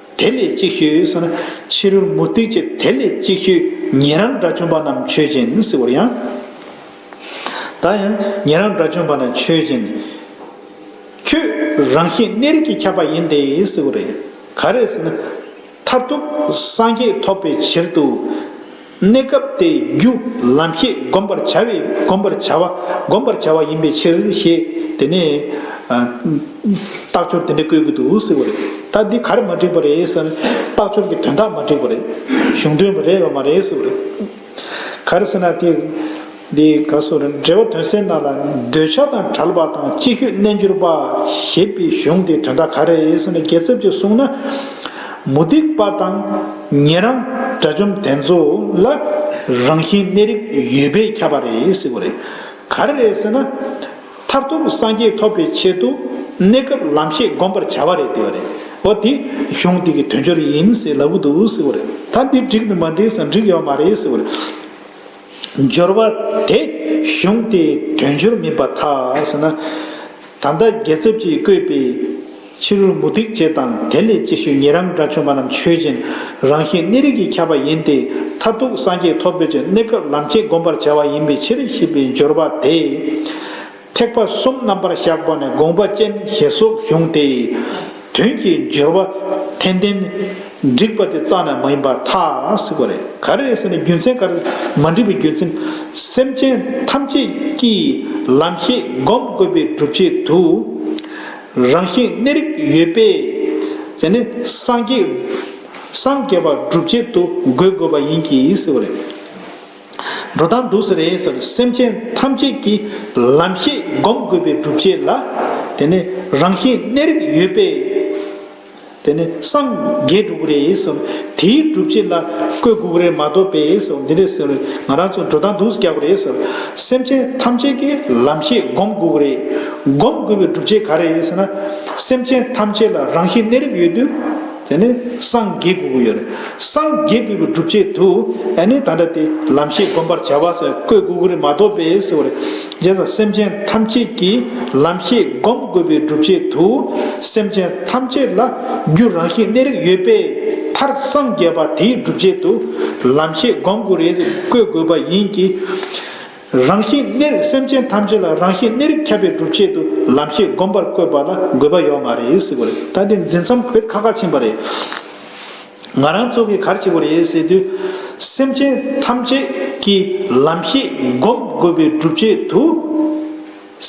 དེ་ལས་ཅིག་ཤོས་ཟེར་ན་ཕྱི་རོལ་མུ་སྟེགས་ཀྱི་དེ་ལས་ཅིག་ཤོས་ཉན་རང་དགྲ་བཅོམ་པ་རྣམས་ཆོས་ཅན་ཟེར་བར་ཡང། ད་ཡང་ཉན་རང་དགྲ་བཅོམ་པ་ནི་ཆོས་ཅན། ཁྱོད་རང་བཞིན་གནས་རིགས་ཀྱིས་ཁྱབ་པ་ཡིན་ཏེ་ཟེར་བ་རེད། ག་རེ་ཟེར་ན། མཐར་ཐུག་སངས་རྒྱས་ཐོབ་པའི་ཕྱིར་དུ། གནས་སྐབས་ཏེ་རྒྱུ་ལམ་ཤེས་བསྒོམ་པར་བྱ་བའི་བསྒོམ་པར་བྱ་བ་བསྒོམ་པར་བྱ་བ་ཡིན་པའི་ཕྱིར་ཞེས་དེ་ནས། རྟགས་སྦྱོར་དེ་འདྲ་བཀོད་གི་འདུག་ཟེར་བ་རེད། ད་འདི་ག་རེ་མ་འགྲིག་པ་རེད་བསམ་ན། རྟགས་སྦྱོར་གྱི་དོན་དག་མ་འགྲིག་པ་རེད། གཞུང་དོན་རེད་བ་མ་རེད་ཟེར་བ་རེད། ག་རེ་ཟེར་ན་དེ། འདི་ག་སོར་འགྲེལ་བ་དོན་གསལ་གནང་ལ། འདོད་ཆགས་དང་བྲལ་བ་དང་ཅིག་ཤོས་རྣལ་འབྱོར་པ། ཞེས་པའི་གཞུང་དེའི་དོན་དག་ག་རེ་ཡིན་ཟེར་ན་རྒྱལ་ཚབ་ཀྱིས་གསུངས་ན། མུ་སྟེགས་པ་དང་ཉན་རང་དགྲ་བཅོམ་དེ་ཚོ་ལ་རང་བཞིན་གནས་རིགས་ཡོད་པས་ཁྱབ་པ་རེད་ཟེར་བ་རེད། ག་རེ་རེད་ཟེར་ན། མཐར་ཐུག་སངས་རྒྱས་ཐོབ་པའི་ཆེད་དུ་གནས་སྐབས་ལམ་ཤེས་བསྒོམ་པར་བྱ་བ་རེད་ཟེར་བ་རེད། འོ་དེ་གཞུང་འདི་གི་དོན་སྦྱོར་ཡིན་ཟེར་ལབ་གི་འདུག་ཟེར་བ་རེད། ད་འདི་འགྲིག་ནི་མ་འགྲིག་ཟེར་ན་འགྲིག་ཡོད་མ་རེད་ཟེར་བ་རེད། སྦྱོར་བ། དེ་གཞུང་དེ་དོན་སྦྱོར་མིན་པ་ཐ་ས་ན། ད་ལྟ་རྒྱལ་ཚབ་ཀྱིས་བསྐོས་པའི་ཕྱི་རོལ་མུ་སྟེགས་བྱེད་དང་དེ་ལས་ཅིག་ཤོས་ཉིད་རང་འདྲ་ཆོས་མ་རྣམས་ཆོས་ཅན། རང་བཞིན་གནས་རིགས་ཀྱིས་ཁྱབ་པ་ཡིན་ཏེ་མཐར་ཐུག་སངས་རྒྱས་ཐོབ་འདོད་ཀྱི་གནས་སྐབས་ལམ་བསྐྱེད་བསྒོམ་པར་བྱ་བ་ཡིན་པའི་ཕྱིར་ཞེས་པའི་སྦྱོར་བ་དེ། ཐེག་པ་གསུམ་རྣམ་པར་བཞག་པ་ནི་དགོངས་པ་ཅན་ཞེས་སོགས་གཞུང་དེའི་དོན་གྱི་སྦྱོར་བ་འཐད་ལྡན། འགྲིགས་པ་དེ་རྩ་ནས་མ་ཡིན་པ་ཐག་གཟིགས་པ་རེད། ག་རེ་ཟེར་ན་རྒྱུ་མཚན་ག་རེ་མ་འགྲིགས་པའི་རྒྱུ་མཚན། སེམས་ཅན་ཐམས་ཅད་ཀྱིས་ལམ་ཤེས་བསྒོམ་དགོས་པའི་སྒྲུབ་བྱེད་དུ། རང་བཞིན་གནས་རིགས་ཡོད་པས། དེ་ནི་སངས་རྒྱས་པ་སྒྲུབ་བྱེད་དུ་འགོད་དགོས་པ་ཡིན་གྱིས་ཟེར་བ་རེད། འགྲོ་དང་འདུག་ཟེར་ཡིན་ཟེར་སེམས་ཅན་ཐམས་ཅད་ཀྱི་ལམ་ཤེས་བསྒོམ་དགོས་པའི་སྒྲུབ་བྱེད་ལ། དེ་ནི་རང་བཞིན་གནས་རིགས་ཡོད་པས། དེ་ནི་སངས་རྒྱས་སྒྲུབ་དགོས་རེད་ཟེར་དེའི་སྒྲུབ་བྱེད་ལ་བཀོད་དགོས་རེད་མ་གཏོགས་པས་ཟེར་འདི་རེད་ཟེར་ང་རང་ཚོ་འགྲོ་དང་འདུག་རྒྱག་པ་རེད་ཟེར་སེམས་ཅན་ཐམས་ཅད་ཀྱི་ལམ་ཤེས་བསྒོམ་དགོས་རེད། བསྒོམ་དགོས་པའི་སྒྲུབ་བྱེད་ག་རེ་ཡིན་ཟེར་ན། སེམས་ཅན་ཐམས་ཅད་ལ་རང་བཞིན་གནས་རིགས་ཡོད་དུས། དེ་ནི་སངས་རྒྱས་དགོས་ཀྱི་ཡོད་རེད། སངས་རྒྱས་དགོས་པའི་སྒྲུབ་བྱེད་དུ། ཨ་ནི་ད་འདྲ་དེ། ལམ་ཤེས་སྒོམ་པར་བྱ་བ་སོགས་བཀོད་དགོས་ཀྱི་རེད་མ་གཏོགས་པས་ཟེར་བ་རེད། རྗེས་སུ་སེམས་ཅན་ཐམས་ཅད་ཀྱིས་ལམ་ཤེས་སྒོམ་དགོས་པའི་སྒྲུབ་བྱེད་དུ། སེམས་ཅན་ཐམས་ཅད་ལ་རྒྱུ་རང་བཞིན་གནས་རིགས་ཡོད་པས་མཐར་སངས་རྒྱས་པ་དེའི་སྒྲུབ་བྱེད་དུ། ལམ་ཤེས་སྒོམ་དགོས་རེད་ཟེར་བཀོད་དགོས་པ་ཡིན་གྱི། རང་བཞིན་གནས་རིགས་སེམས་ཅན་ཐམས་ཅད་ལ་རང་བཞིན་གནས་རིགས་ཁྱབ་པའི་སྒྲུབ་བྱེད་དུ་ལམ་ཤེས་སྒོམ་པར་བཀོད་པ་ལ་དགོས་པ་ཡོག་མ་རེད་ཟེར་བ་རེད་ད་དེ་འཛིན་མཚམས་ཁོད་ཁ་ཁ་ཕྱིན་པ་རེད། ང་རང་ཚོ་གིས་གར་བྱེད་པོ་རེད་ཟེར་དུས། སེམས་ཅན་ཐམས་ཅད་ཀྱི་ལམ་ཤེས་སྒོམ་དགོས་པའི་སྒྲུབ་བྱེད་དུ།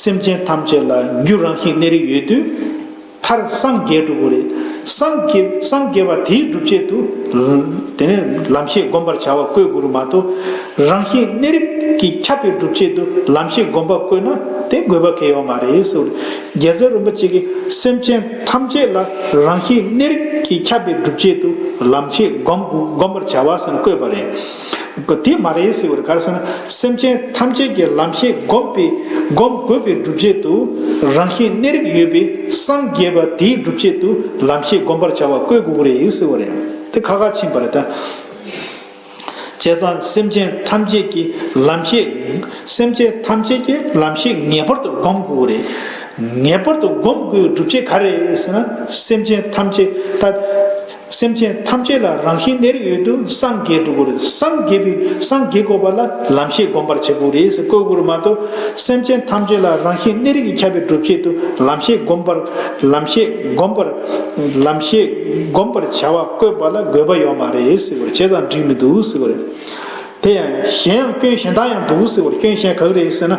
སེམས་ཅན་ཐམས་ཅད་ལ་རྒྱུ་རང་བཞིན་གནས་རིགས་ཡོད་དུས། མཐར་སངས་རྒྱས་འགྲུབ་བོ། སངས་རྒྱས་པ་དེའི་སྒྲུབ་བྱེད་དུ། དེ་ནས་ལམ་ཤེས་བསྒོམ་པར་བྱ་བ་བཀོད་གུ་རུ་མ་ཏོ། རང་བཞིན་གནས་རིགས་ཀྱིས་ཁྱབ་པའི་སྒྲུབ་བྱེད་དུ་ལམ་ཤེས་བསྒོམ་པ་བཀོད་ན་དེ་དགོས་པ་གལ་ཡོད་མ་རེད། རྒྱལ་མཚན་རིན་པོ་ཆེ་གིས་སེམས་ཅན་ཐམས་ཅད་ལ་རང་བཞིན་གནས་རིགས་ཀྱིས་ཁྱབ་པའི་སྒྲུབ་བྱེད་དུ་ལམ་ཤེས་བསྒོམ་པར་བྱ་བ་ཟེར་བཀོད་པ་རེད། གོ། དེ་མ་རེད་ཟེར་བར་དགར་ཟེར་ན་སེམས་ཅན་ཐམས་ཅད་ཀྱི་ལམ་ཤེས་བསྒོམ་པའི་བསྒོམ་དགོས་པའི་སྒྲུབ་བྱེད་དུ་རང་བཞིན་གནས་རིགས་ཡོད་པའི་སངས་རྒྱས་པ་དེའི་སྒྲུབ་བྱེད་དུ་ལམ་ཤེས་བསྒོམ་པར་བྱ་བ་བཀོད་དགོས་ཀྱི་རེད་ཟེར་བ་རེད། དེ་ཁ་ཁ་ཕྱིན་པ་རེད། བྱས་ཙང་སེམས་ཅན་ཐམས་ཅད་ཀྱི་ལམ་ཤེས་སེམས་ཅན་ཐམས་ཅད་ཀྱི་ལམ་ཤེས་ངེས་པར་དུ་བསྒོམ་དགོས་ཀྱི་རེད། ངེས་པར་དུ་བསྒོམ་དགོས་པའི་སྒྲུབ་བྱེད་ག་རེ་ཟེར་ན་སེམས་ཅན་ཐམས་ཅད་ལྟ་སེམས་ཅན་ཐམས་ཅད་ལ་རང་བཞིན་ནེར་ཡོད་དུ་སངས་རྒྱས་འགྲོ་དགོས་རེད་སངས་རྒྱས་པའི་སངས་རྒྱས་དགོས་པ་ལ་ལམ་ཤེས་སྒོམ་པར་བྱེད་དགོས་རེད་བཀོད་དགོས་མ་གཏོགས་སེམས་ཅན་ཐམས་ཅད་ལ་རང་བཞིན་ནེར་ཡོད་ཁྱབ་པའི་སྒྲུབ་བྱེད་དུ་ལམ་ཤེས་སྒོམ་པར་ལམ་ཤེས་སྒོམ་པར་ལམ་ཤེས་སྒོམ་པར་བྱ་བ་བཀོད་པ་ལ་དགོས་པ་ཡོད་མ་རེད་ཟེར་བར་བྱས་ཙང་འགྲིག་མི་འདུག་ཟེར་བ་རེད་དེ་ཡང་གཞན་ཡང་སྐྱོན་གཞན་དག་ཡང་འདུག་ཟེར་བར་སྐྱོན་གཞན་ག་རེ་རེད་ཟེར་ན།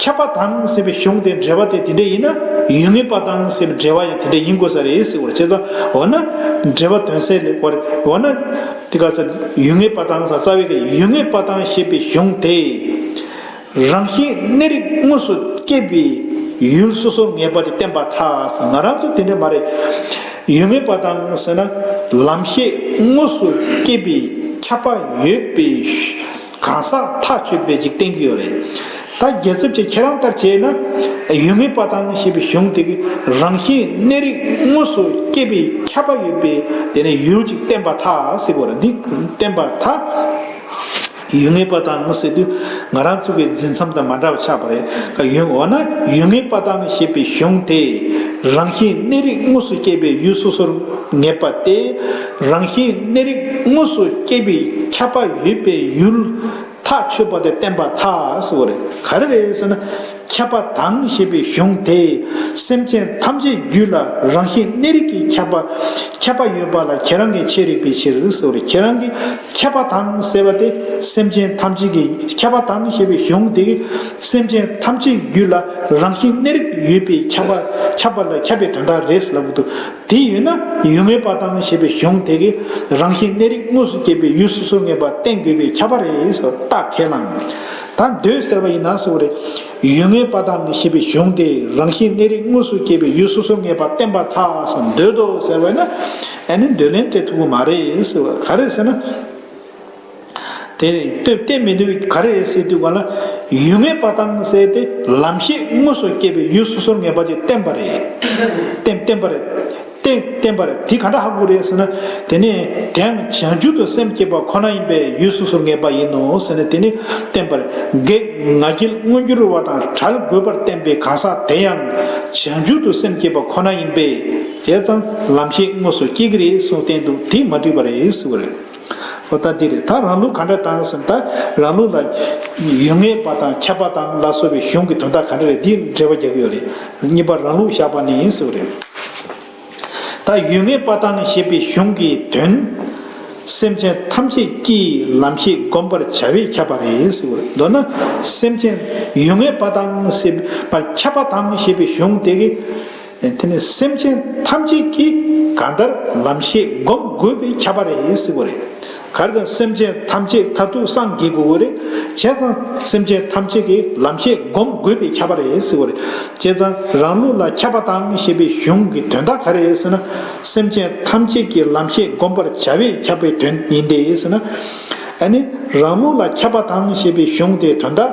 ཁྱབ་པ་དང་ཟེར་བའི་གཞུང་དེ་འབྲེལ་བ་དེ་དེ་འདྲ་ཡིན་ན་ཡུལ་ངེས་པ་དང་ཟེར་བའི་འབྲེལ་བ་ཡང་དེ་འདྲ་ཡིན་དགོས་ས་རེད་ཟེར་བར་བྱས། འོ་ན། འབྲེལ་བ་དོན་གསལ་ལེགས་པར་འོ་ན། དེ་ག་ས་ཡུལ་ངེས་པ་དང་ས་རྩ་བའི་ག་ཡུལ་ངེས་པ་དང་ཞེས་པའི་གཞུང་དེ། རང་བཞིན་གནས་རིགས་དངོས་སུ་སྐྱེས་པའི་ཡུལ་སོ་སོར་ངེས་པ་དེ་བསྟན་པ་ཐག་ཟ་ང་རང་ཚོ་དེ་འདྲ་མ་རེད། ཡུལ་ངེས་པ་དང་ཟེར་ན་ལམ་ཤེས་དངོས་སུ་སྐྱེས་པའི་ཁྱབ་པ་ཡོད་པའི། གང་ཟག་ཐག་གཅོད་པས་ཅིག་བསྟན་གྱི་ཡོད་རེད། ད་རྒྱལ་ཚབ་ཀྱིས་ཁྱེད་རང་ལྟར་བྱས་ན། ཡུལ་མི་པ་དང་ཞེས་པའི་གཞུང་དེ་གི་རང་བཞིན་གནས་རིགས་དངོས་སུ་སྐྱེས་པའི་ཁྱབ་པ་ཡོད་པས་དེ་ནས་ཡུལ་ཅིག་བསྟན་པ་ཐག་ཟིག་གོ་ར་འདི་བསྟན་པ་ཐག་ཡུལ་མི་པ་དང་ཟེར་དུས་ང་རང་ཚུགས་པའི་འཛིན་མཚམས་དང་མ་འདྲ་བ་ཆགས་པ་རེད་ཡུལ་འོ་ན་ཡུལ་མི་པ་དང་ཞེས་པའི་གཞུང་དེ་རང་བཞིན་གནས་རིགས་དངོས་སུ་སྐྱེས་པའི་ཡུལ་སོ་སོར་ངེས་པ་སྟེ། རང་བཞིན་གནས་རིགས་དངོས་སུ་སྐྱེས་པའི་ཁྱབ་པ་ཡོད་པའི་ཡུལ། ཐག་ཆོད་པ་དེ་བསྟན་པ་ཐག་གཟོ་རེད། ག་རེ་རེད་ཟེར་ན། ཁྱབ་པ་དང་ཞེས་པའི་གཞུང་དེས་སེམས་ཅན་ཐམས་ཅད་རྒྱུད་ལ་རང་བཞིན་གནས་རིགས་ཀྱི་ཁྱབ་པ། ཁྱབ་པ་ཡོད་པ་ལ་ཁྱེད་རང་གི་འཆད་རིགས་པའི་ཕྱིར་གཟོ་རེད་ཁྱེད་རང་གི། ཁྱབ་པ་དང་ཟེར་བ་དེ་སེམས་ཅན་ཐམས་ཅད་ཀྱི་ཁྱབ་པ་དང་ཞེས་པའི་གཞུང་དེས་སེམས་ཅན་ཐམས་ཅད་རྒྱུད་ལ་རང་བཞིན་གནས་རིགས་ཡོད་པའི་ཁྱབ་པ་ཁྱབ་པ་ལ་ཁྱབ་པའི་དོན་དག་རེད་ཟེར་ལབ་གི་འདུག་དེ་ཡོད་ན་ཡུལ་ངེས་པ་དང་ཞེས་པའི་གཞུང་དེ་གའི་རང་བཞིན་གནས་རིགས་དངོས་སུ་བསྐྱེད་པའི་ཡུལ་སོ་སོའི་ངེས་པ་བསྟན་དགོས་པས་ཁྱབ་པ་རེད་ཟེར་བ་ལྟ་གལ་ལ། ད་འདོད་ཟེར་བ་ཡིན་ན་ཟེར་བ་རེད། ཡུལ་ངེས་པ་དང་ཞེས་པའི་གཞུང་དེས་རང་བཞིན་གནས་རིགས་དངོས་སུ་བསྐྱེད་པའི་ཡུལ་སོ་སོའི་ངེས་པ་བསྟན་པ་ཐག་ཟིན་འདོད་དོ་ཟེར་བ་ཡིན་ན། ཨ་ནི་འདོད་ལན་སྤྲད་ཐུབ་ཀྱི་མ་རེད་ཟེར་བ་ག་རེ་ཟེར་ན། དེ་རིང་སྟོད་གཏད་མི་ནུས་ག་རེ་ཟེར་དུས་ག་ལ་ཡོད་ངེས་པ་དང་བསྲེས་ཏེ་ལམ་ཤེས་དངོས་སུ་སྐྱེས་པའི་ཡུལ་སོ་སོར་ངེས་པ་ཅིག་བསྟན་པ་རེད། བསྟན་པ་རེད། བསྟན་པ་རེད་དེ་ག་འདྲ་ཧ་གོ་རེད་ཟེར་ན། དེ་ནི་དེའང་བྱང་ཆུབ་ཏུ་སེམས་བསྐྱེད་པ་ཁོ་ན་ཡིན་པས་ཡུལ་སོ་སོར་ངེས་པ་ཡིན་ནོ་ཟེར་ན་དེ་ནི་བསྟན་པ་རེད། བགེགས་ང་རྒྱལ་མངོན་གྱུར་བ་དང་བྲལ་དགོས་པར་བསྟན་པའི་གང་ཟག་དེ་ཡང་བྱང་ཆུབ་ཏུ་སེམས་བསྐྱེད་པ་ཁོ་ན་ཡིན་པས་དེས་ཀྱང་ལམ་ཤེས་དངོས་སུ་སྐྱེ་གི་རེད་གསུངས་བསྟན་འདུག་དེས་མ་འགྲིག་པ་རེད་ཟེར་བ་རེད། ཨོ་ད་འདི་རེད་ད་རང་ལུགས་ག་འདྲ་དང་ཟེར་ན་ད་རང་ལུགས་ལ། ཡུལ་ངེས་པ་དང་ཁྱབ་པ་དང་ལ་སོགས་པའི་གཞུང་གི་དོན་དག་ག་འདྲ་རེད་འདི་འགྲེལ་བ་རྒྱག་གི་ཡོད་རེད། གཉིས་པ་རང་ལུགས་བཞག་པ་ནི་ཡིན་ཟེར་བ་རེད། ད་ཡུལ་ངེས་པ་དང་ཞེས་པའི་གཞུང་གི་དོན། སེམས་ཅན་ཐམས་ཅད་ཀྱིས་ལམ་ཤེས་བསྒོམ་པར་བྱ་བས་ཁྱབ་པ་རེད་ཟེར་བ་རེད། མདོར་ན། སེམས་ཅན་ཡུལ་ངེས་པ་དང་ཞེས་པར་ཁྱབ་པ་དང་ཞེས་པའི་གཞུང་དེ། དེ་ནི་སེམས་ཅན་ཐམས་ཅད་ཀྱིས་གང་ལྟར་ལམ་ཤེས་བསྒོམ་དགོས་པའི་ཁྱད་པར་རེད་ཟེར་བ་རེད། གར་ཙམ་སེམས་ཅན་ཐམས་ཅད་མཐར་ཐུག་སངས་རྒྱས་དགོས་རེད། བྱས་ཙང་སེམས་ཅན་ཐམས་ཅད་ཀྱིས་ལམ་ཤེས་བསྒོམ་དགོས་པའི་ཁྱད་པར་རེད་ཟེར་བ་རེད། བྱས་ཙང་རང་ལུགས་ལ་ཁྱབ་པ་དང་ཞེས་པའི་གཞུང་གི་དོན་དག་ག་རེད་ཟེར་ན། སེམས་ཅན་ཐམས་ཅད་ཀྱིས་ལམ་ཤེས་བསྒོམ་པར་བྱ་བས་ཁྱབ་པའི་དོན་ཡིན་ཏེ་ཟེར་ན། ཨ་ནི་རང་ལུགས་ལ་ཁྱབ་པ་དང་ཞེས་པའི་གཞུང་དེའི་དོན་དག།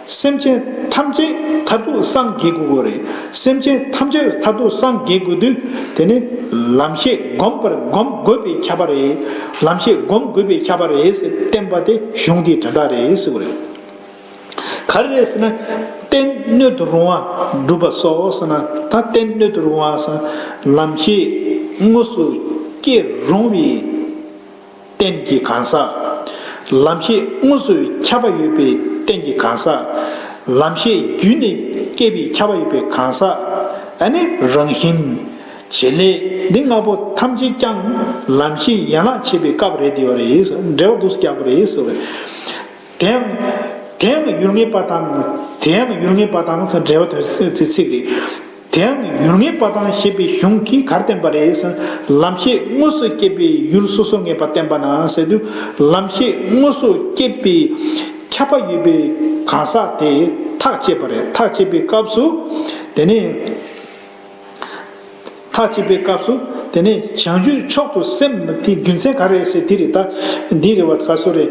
སེམས་ཅན་ཐམས་ཅད་མཐར་ཐུག་སངས་རྒྱས་དགོས་དགོས་རེད། སེམས་ཅན་ཐམས་ཅད་མཐར་ཐུག་སངས་རྒྱས་དགོས་དུས་དེ་ནི་ལམ་ཤེས་བསྒོམ་པར་བསྒོམ་དགོས་པའི་ཁྱབ་པ་རེད། ལམ་ཤེས་བསྒོམ་དགོས་པའི་ཁྱབ་པ་རེད་ཟེར་བསྟན་པ་དེ་གཞུང་དེའི་དོན་དག་རེད་ཟེར་བ་རེད། ག་རེ་རེད་ཟེར་ན། རྟེན་སྣོད་དུ་རུང་བ་སྒྲུབ་པ་སོགས་ཟེར་ན་ད་རྟེན་སྣོད་དུ་རུང་བ་ཟེར་ན་ལམ་ཤེས་དངོས་སུ་སྐྱེ་རུང་བའི། རྟེན་གྱི་གང་ཟག། ལམ་ཤེས་དངོས་སུ་ཁྱབ་པ་ཡོད་པའི་རྟེན་གྱི་གང་ཟག། ལམ་ཤེས་བརྒྱུད་ནས་སྐྱེས་པའི་ཁྱབ་པ་ཡོད་པའི་གང་ཟག། ཨ་ནི་རང་བཞིན། བྱེད་ལས། འདི་ལྔ་པོ་ཐམས་ཅད་ཀྱང་ལམ་ཤེས་ཡན་ལག་ཕྱེད་པའི་སྐབས་རེད་དེ་བ་རེད། འབྲེལ་བ་འདུག་སྐྱག་པ་རེད་ཟེར་བ། དེའང། དེའང་ཡུལ་ངེས་པ་དང། དེའང་ཡུལ་ངེས་པ་དང་འབྲེལ་བ་དོན་ཚིག་རེད། དེའང་ཡུལ་ངེས་པ་དང་ཞེས་པའི་གཞུང་གིས་གར་བསྟན་པ་རེད། ལམ་ཤེས་དངོས་སུ་སྐྱེས་པའི་ཡུལ་སོ་སོ་ངེས་པ་བསྟན་པ་ན་ཟེར་དུས་ལམ་ཤེས་དངོས་སུ་སྐྱེས་པའི་ཁྱབ་པ་ཡོད་པའི་གང་ཟག་དེ་ཐག་བཅད་པ་རེད། ཐག་བཅད་པའི་སྐབས་སུ་དེ་ནི། ཐག་བཅད་པའི་སྐབས་སུ་དེ་ནི་བྱང་ཆུབ་མཆོག་ཏུ་སེམས་དེའི་རྒྱུ་མཚན་ག་རེ་ཟེར་དེ་རེད་ད། འདི་རེད་བ་ད་ག་སུ་རེད།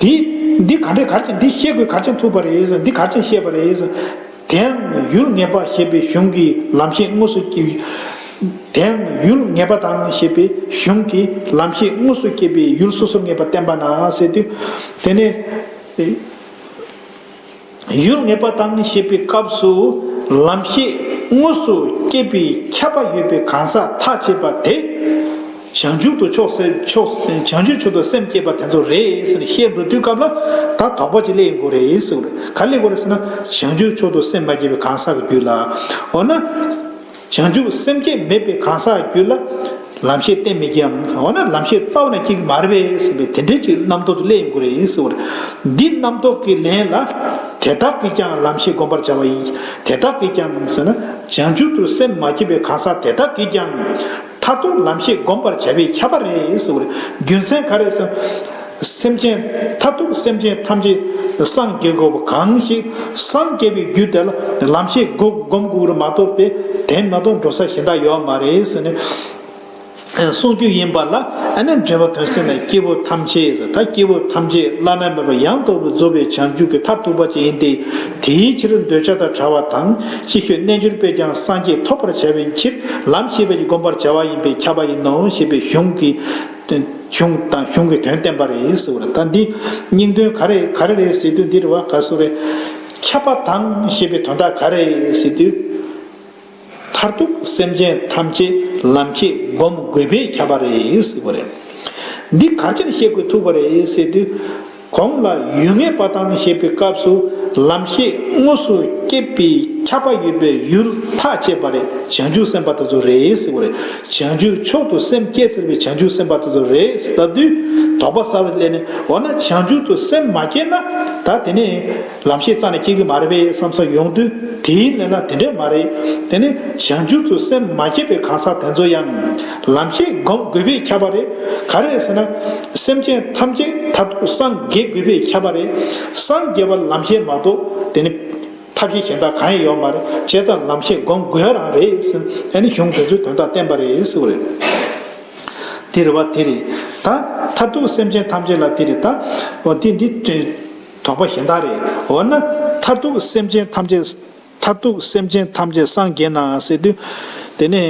དེས། འདི་ག་འདྲའི་གར་ཆེན་འདི་ཤེས་དགོས་གར་ཆེན་ཐུབ་པ་རེད་འདི་གར་ཆེན་ཤེས་པ་རེད། དེའང་ཡུལ་ངེས་པ་ཞེས་པའི་གཞུང་གི་ལམ་ཤེས་དངོས་སུ་སྐྱེས། དེའང་ཡུལ་ངེས་པ་དང་ཞེས་པའི་གཞུང་གི་ལམ་ཤེས་དངོས་སུ་སྐྱེས་པའི་ཡུལ་སོ་སོར་ངེས་པ་བསྟན་པ་ན་ཟེར་དུས། དེ་ནས། ཡུལ་ངེས་པ་དང་ཞེས་པའི་སྐབས་སུ་ལམ་ཤེས་དངོས་སུ་སྐྱེས་པའི་ཁྱབ་པ་ཡོད་པའི་གང་ཟག་ཐ་ཆད་པ་དེ། བྱང་ཆུབ་ཏུ་ཕྱོགས་བྱང་ཆུབ་ཕྱོགས་ཏུ་སེམས་བསྐྱེད་པ་དེ་ཚོ་རེད་ཟེར་ནས་ཤེས་འགྲོ་དུས་སྐབས་ལ་ད་དོགས་པ་ཅིག་སླེ་ཡི་དགོས་རེད་ཟེར། ག་ལས་དགོས་རེད་ཟེར་ན་བྱང་ཆུབ་ཕྱོགས་ཏུ་སེམས་མ་བསྐྱེད་པའི་གང་ཟག་གི་རྒྱུད་ལ། འོ་ན། བྱང་ཆུབ་སེམས་བསྐྱེད་མེད་པའི་གང་ཟག་རྒྱུད་ལ། ལམ་ཤེས་གཏན་མི་སྐྱེའམ། འོ་ན་ལམ་ཤེས་རྩ་བ་ནས་སྐྱེ་གི་མ་རེད་པས་ཟེར་བའི་དེ་འདྲའི་ཅིག་རྣམ་རྟོག་གི་ཀླད་ཡིན་དགོས་རེད་ཟེར་བ་རེད། འདི་རྣམ་རྟོག་གི་ལན་ལ། དེ་དག་གིས་ཀྱང་ལམ་ཤེས་བསྒོམ་པར་བྱ་བ་ཡིན་གྱི། དེ་དག་གིས་ཀྱང་ཟེར་ན། བྱང་ཆུབ་ཏུ་སེམས་མ་བསྐྱེད་པའི་གང་ཟག་དེ་དག་གིས་ཀྱང། མཐར་ཐུག་ལམ་ཤེས་བསྒོམ་པར་བྱ་བས་ཁྱབ་པ་རེད། རྒྱུ་མཚན་ག་རེ། སེམས་ཅན། མཐར་ཐུག་སེམས་ཅན་ཐམས་ཅད་སངས་རྒྱས་དགོས་པ་གང་ཞིག། སངས་རྒྱས་པའི་རྒྱུ་དེ་ལ་ལམ་ཤེས་བསྒོམ་དགོས་ར་མ་གཏོགས་པས་དེ་མ་གཏོགས་འགྲོ་ས་གཞན་དག་ཡོད་མ་རེད། གསུངས་རྒྱུ་ཡིན་པ་ལ་ཨ་ནེ་འབྲེལ་བ་དོན་གསལ་ན་སྐྱེ་བོ་ཐམས་ཅད། ད་སྐྱེ་བོ་ཐམས་ཅད་བླ་ན་མེད་པ་ཡང་དག་པའི་རྫོགས་པའི་བྱང་ཆུབ་ཀྱི་མཐར་ཐུག་པ་ཅིག་ཡིན་ཏེ། དེའི་ཕྱིར་འདོད་ཆགས་དང་བྲལ་བ་དང་ཅི་ཁྱོད་རྣལ་འབྱོར་པས་ཀྱང་སངས་རྒྱས་ཐོབ་པར་བྱ་བའི་ཕྱིར་ལམ་ཤེས་པས་ཀྱི་བསྒོམ་པར་བྱ་བ་ཡིན་པས་ཁྱབ་པ་ཡིན་ནོ་ཞེས་པའི་གཞུང་གི་གཞུང་དང་གཞུང་གི་དོན་བསྟན་པ་རེད་ཟེར་བ་ལ་ད་འདི་སྙིང་དོན་ག་རེ་ག་རེ་རེད་ཟེར་དུས་འདིར་བ་ག་སུ་རེད། ཁྱབ་པ་དང་ཞེས་པའི་དོན་དག་ག་རེད་ཟེར་དུས། མཐར་ཐུག་སེམས་ཅན་ཐམས་ཅད་ལམ་ཆེད་བསྒོམ་དགོས་པས་ཁྱབ་པ་རེད་ཟེར་བ་རེད། འདི་ག་ཅིར་ཤེས་དགོས་ཐུག་པ་རེད་ཟེར་དུས། གོང་ལ་ཡུལ་ངེས་པ་དང་ཞེས་པའི་སྐབས་སུ་ལམ་ཤེས་དངོས་སུ་སྐྱེད་པའི་ཁྱབ་པ་ཡོད་པའི་ཡུལ་ཐག་བཅད་པ་རེད་བྱང་ཆུབ་སེམས་དཔའ་དེ་ཚོ་རེད་ཟེར་བ་རེད། བྱང་ཆུབ་མཆོག་ཏུ་སེམས་བསྐྱེད་ཟེར་བའི་བྱང་ཆུབ་སེམས་དཔའ་དེ་ཚོ་རེད་ཟེར་བཏབ་དུས་དོགས་པ་ས་རུ་སླེབས་ནས་འོ་ན་བྱང་ཆུབ་ཏུ་སེམས་མ་བསྐྱེད་ན་ད་དེ་ནས་ལམ་ཤེས་རྩ་ནས་སྐྱེ་གི་མ་རེད་པས་བསམ་ས་ཡོང་དུས་དེའི་གནད་ལ་དེ་འདྲས་མ་རེད་དེ་ནི་བྱང་ཆུབ་ཏུ་སེམས་མ་བསྐྱེད་པའི་གང་ཟག་དེ་ཚོ་ཡང་ལམ་ཤེས་སྒོམ་དགོས་པས་ཁྱབ་པ་རེད་ག་རེད་ཟེར་ན། སེམས་ཅན་ཐམས་ཅད་མཐར་ཐུག་སངས་རྒྱས་དགོས་པས་ཁྱབ་པ་རེད་སངས་རྒྱས་པར་ལམ་ཤེས་མ་གཏོགས་དེ་ནི་ཐབས་ཤེས་གཞན་དག་གང་ཡང་ཡོད་མ་རེད་བྱས་ཙང་ལམ་ཤེས་སྒོམ་དགོས་རང་རེད་ཟེར་དེ་ནི་གཞུང་དེ་ཚོའི་དོན་དག་བསྟན་པ་རེད་ཟེར་བ་རེད། དེ་རེད་བ་དེ་རེད་ད་མཐར་ཐུག་སེམས་ཅན་ཐམས་ཅད་ལ་དེ་རེད་ད་འོ་དེ་འདི། དོགས་པ་གཞན་དག་རེད། འོ་ན། མཐར་ཐུག་སེམས་ཅན་ཐམས་ཅད། མཐར་ཐུག་སེམས་ཅན་ཐམས་ཅད་སངས་རྒྱས་ནའང་ཟེར་དུས། དེ་ནི།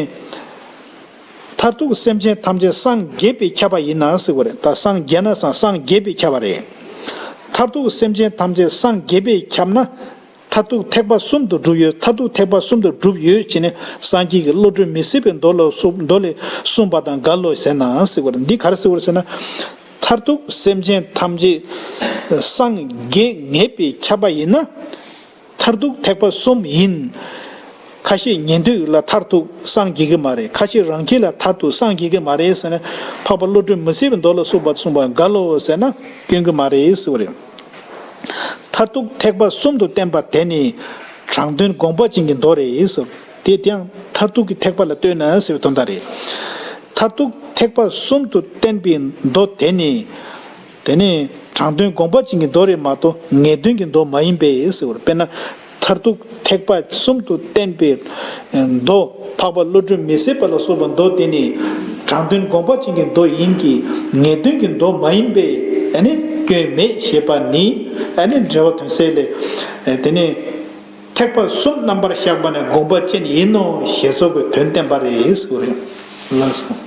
མཐར་ཐུག་སེམས་ཅན་ཐམས་ཅད་སངས་རྒྱས་པས་ཁྱབ་པ་ཡིན་ནའང་ཟེར་བ་རེད། ད་སངས་རྒྱས་ན་སངས་རྒྱས་པས་ཁྱབ་པ་རེད། མཐར་ཐུག་སེམས་ཅན་ཐམས་ཅད་སངས་རྒྱས་པས་ཁྱབ་ན། མཐར་ཐུག་ཐེག་པ་གསུམ་དུ་གྲུབ་ཡོད་མཐར་ཐུག་ཐེག་པ་གསུམ་དུ་གྲུབ་ཡོད་ཅེས་ནི་སངས་རྒྱས་ཀྱི་བློ་གྲོས་མི་སྲིད་པའི་མདོ་ལ་མདོ་ལས་གསུངས་པ་དང་འགལ་ལོ་ཟེར་ནའང་སྲིད་པར་འདི་གར་སྲིད་བར་ཟེར་ན། མཐར་ཐུག་སེམས་ཅན་ཐམས་ཅད་སངས་རྒྱས་ངེས་པས་ཁྱབ་པ་ཡིན་ན། མཐར་ཐུག་ཐེག་པ་གསུམ་ཡིན། ཁ་ཤས་ཉན་ཐོས་ལ་མཐར་ཐུག་སངས་རྒྱས་ཀྱི་མ་རེད་ཁ་ཤས་རང་ཁྱེད་ལ་མཐར་ཐུག་སངས་རྒྱས་ཀྱི་མ་རེད་ཟེར་ནས་འཕགས་པ་བློ་གྲོས་མི་སྲིད་པའི་མདོ་ལ་གསུངས་པ་གསུངས་པ་འགལ་ལོ་ཟེར་ན་སྐྱོན་གྱི་མ་རེད་སྲིད་བ་རེད། མཐར་ཐུག་ཐེག་པ་གསུམ་དུ་བསྟན་པ་དེ་ནི། དྲང་དོན་དགོངས་པ་ཅན་གྱི་མདོ་རེད། དེ་ཡང་མཐར་ཐུག་གི་ཐེག་པ་ལ་ལྟོས་ན་ཟེར་བའི་དོན་དག་རེད། མཐར་ཐུག་ཐེག་པ་གསུམ་དུ་བསྟན་པའི་མདོ་དེ་ནི། དེ་ནི་དྲང་དོན་དགོངས་པ་ཅན་གྱི་མདོ་རེད་མ་གཏོགས་ངེས་དོན་གྱི་མདོ་མ་ཡིན་པས་ཟེར་བར་དཔེར་ན། མཐར་ཐུག་ཐེག་པ་གསུམ་དུ་བསྟན་པའི་མདོ། འཕགས་པ་བློ་གྲོས་མི་ཟད་པ་ལ་སོགས་པའི་མདོ་དེ་ནི། དྲང་དོན་དགོངས་པ་ཅན་གྱི་མདོ་ཡིན་གྱི། ངེས་དོན་གྱི་མདོ་མ་ཡིན་པས། སྐྱོན་མེད་ཞེས་པ་ནི། འགྲེལ་བ་དོན་གསལ་ལས། དེ་ནི། ཐེག་པ་གསུམ་རྣམ་པར་བཞག་པ་ནི་དགོངས་པ་ཅན་ཡིན་ནོ་ཞེས་སོགས་ཀྱི་དོན་བསྟན་པ་རེད། ལན་གསུམ།